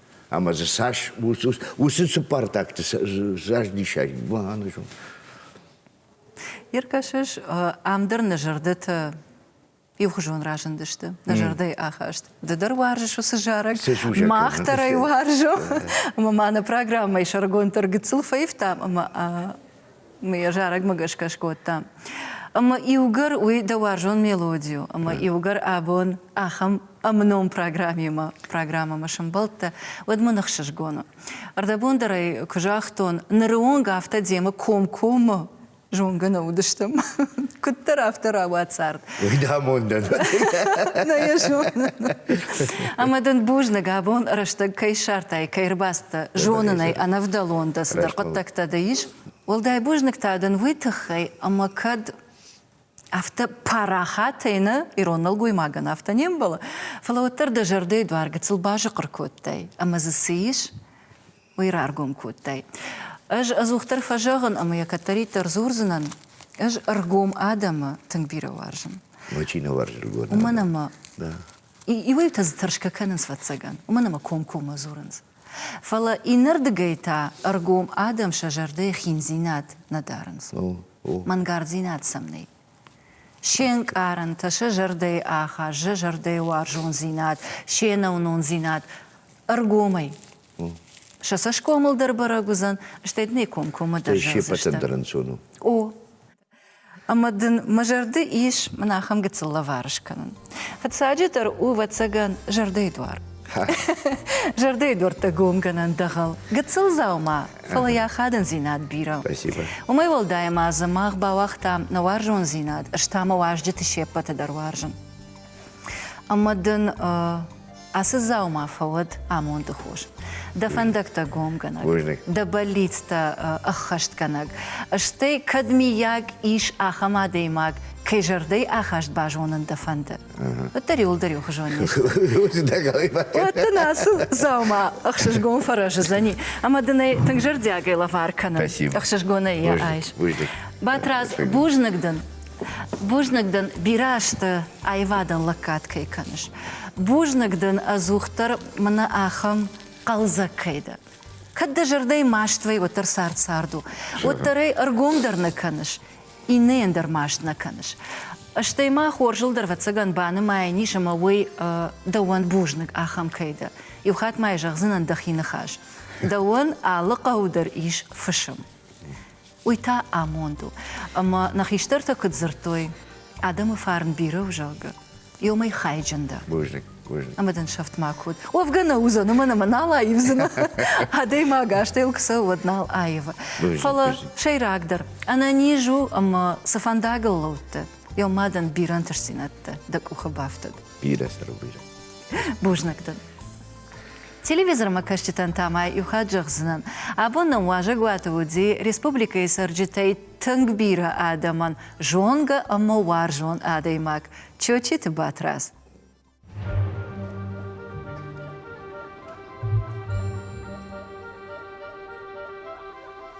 Ӕмӕ дзы цас уыцы цыппӕрдӕгты заздисай банызон. Иркӕсыс, ам дӕр нӕ зӕрдӕтӕ иухуызон разындысты нӕ зӕрдӕйы ахаст. Ды дӕр уарзыс уыцы зарӕг. Мах дӕр ӕй уарзӕм. Ӕмӕ ма нӕ программӕйы сӕргонддӕр гыццыл фӕивтам ӕмӕ Уый зарӕгмӕ гӕсгӕ скодта. Ӕмӕ иугӕр уый дӕ уарзон мелоди у, ӕмӕ иугӕр абон ахӕм ӕмном программӕмӕ, программӕмӕ сӕмбӕлдтӕ, уӕд мын ӕхсызгон у. Ӕрдӕбон дӕр ӕй куы загътон, ныры онг афтӕ демӕ комкоммӕ зонгӕ нӕ уыдыстӕм. Куыддӕр афтӕ рауад цард. Уйдамондан. На я зонын. Ӕмӕ дын бузныг абон рӕстӕг кӕй ссартай, кӕй ӕрбацыдтӕ зонынӕй ӕнӕвдӕлон дӕ цыдӕр хъуыддӕгтӕ дӕ ис. Уӕлдай бузныг та дын уый тыххӕй, ӕмӕ кӕд афтӕ парахатӕй нӕ ирон нӕлгоймагӕн афтӕ не мбӕлы, фӕлӕ уӕддӕр дӕ зӕрдӕйы дуар гыцыл базыхъыр кодтай, ӕмӕ дзы цы ис, уый раргом кодтай. Ӕз ӕдзухдӕр фӕзӕгъын ӕмӕ йӕ кӕддӕриддӕр дзурдзынӕн, ӕз ӕргом адӕмы тынг бирӕ уарзын. Мой чи не уарзы ӕргом? Уымӕн ӕмӕ иуӕйтӕ дзы тӕрсгӕ кӕнынц, ӕвӕццӕгӕн, уымӕн ӕмӕ комкоммӕ дзурынц. Фӕлӕ иннӕрдыгӕй та ӕргом адӕм сӕ зӕрдӕйы хиндзинад нӕ дарынц. Мӕнгарддзинад сӕм нӕй. Се нкъарӕнтӕ, сӕ зӕрдӕйы ахаст, сӕ зӕрдӕйы уарзондзинад, се нӕуынондзинад ӕргомӕй Сӕ цӕсгомыл дӕр бӕрӕг уыдзӕн, стӕй дын ӕй комкоммӕ дӕр зӕгъдзыстӕм. О, ӕмӕ дын мӕ зӕрды ис мын ахӕм гыццыл лӕвар скӕнын. Фыццаджыдӕр у, ӕвӕццӕгӕн, зӕрдӕйы дуар. Зӕрдӕйы дуӕрттӕ гомгӕнӕн дӕгъӕл гыццыл дзаума, фӕлӕ йӕ ахадындзинад бирӕ. Уымӕй уӕлдай ма дзы мах бауагътам нӕ уарзондзинад, ӕз та мӕ уазджыты се ппӕты дӕр уарзын. Ӕмӕ дын ацы дзаума фӕуӕд амонды хос. Дӕ фӕндӕгтӕ гомгӕнӕг, дӕ бӕллицтӕ ӕххӕстгӕнӕг. Стӕй, кӕд миййаг ис ахӕм адӕймаг, кӕй зӕрдӕй ахаст базонын дӕ фӕнды, уӕддӕр иуылдӕр иухуызон низ. Уӕд дын ацы дзаума ӕхсызгон фӕрӕзыдзӕни ӕмӕ дын ӕй тынг зӕрдиагӕй лӕвар кӕнын. Ӕхсызгонӕй йӕ айс. Батрадз, бузныг дын. Бузныг дын бирӕ азты аивадӕн лӕггад кӕй кӕныс. Бузныг дын ӕдзухдӕр мӕнӕ ахӕм хъӕлдзӕг кӕй дӕ. Кӕд дӕ зӕрдӕйы маст вӕй, уӕддӕр цард цард у. Уӕддӕр ӕй ӕргом дӕр нӕ кӕныс, иннӕйӕн дӕр маст нӕ кӕныс. Стӕй ма хорзыл дӕр, ӕвӕццӕгӕн, банымайӕн ис ӕмӕ уый дӕуӕн бузныг, ахӕм кӕй дӕ. Иу хатт ма йӕ зӕгъдзынӕн дӕхи ныхас. Дӕуӕн алы хъӕу дӕр ис фысым. уый та амонд у. Ӕмӕ нӕ хистӕртӕ куыд дзырдтой, адӕмы фарн бирӕ у, зӕгъгӕ, иумӕ хайджын дӕ. Бузныг, бузныг. Ӕмӕ дын сӕфт ма код. Уӕвгӕ нӕ уыдзӕн, уымӕн ӕмӕ нал аивдзынӕ. Адӕймаг астӕуыл куы цӕуы, уӕд нал аивы. Фӕлӕ, сӕйрагдӕр, ӕнӕниз у ӕмӕ цы фӕндагыл лӕудтӕ, уӕ мадӕн бирӕ ӕнтыстдзинӕдтӕ дӕ къухы бафтӕд. Бирӕ, сӕру, бирӕ. Бузныг дын. Телевизормӕ кӕсджытӕн та ма иу хатт зӕгъдзынӕн, абон нӕм уазӕгуаты уыди республикӕйы цӕрджытӕй тынг бирӕ адӕмӕн зонгӕ ӕмӕ уарзон адӕймаг Чочиты Батрадз.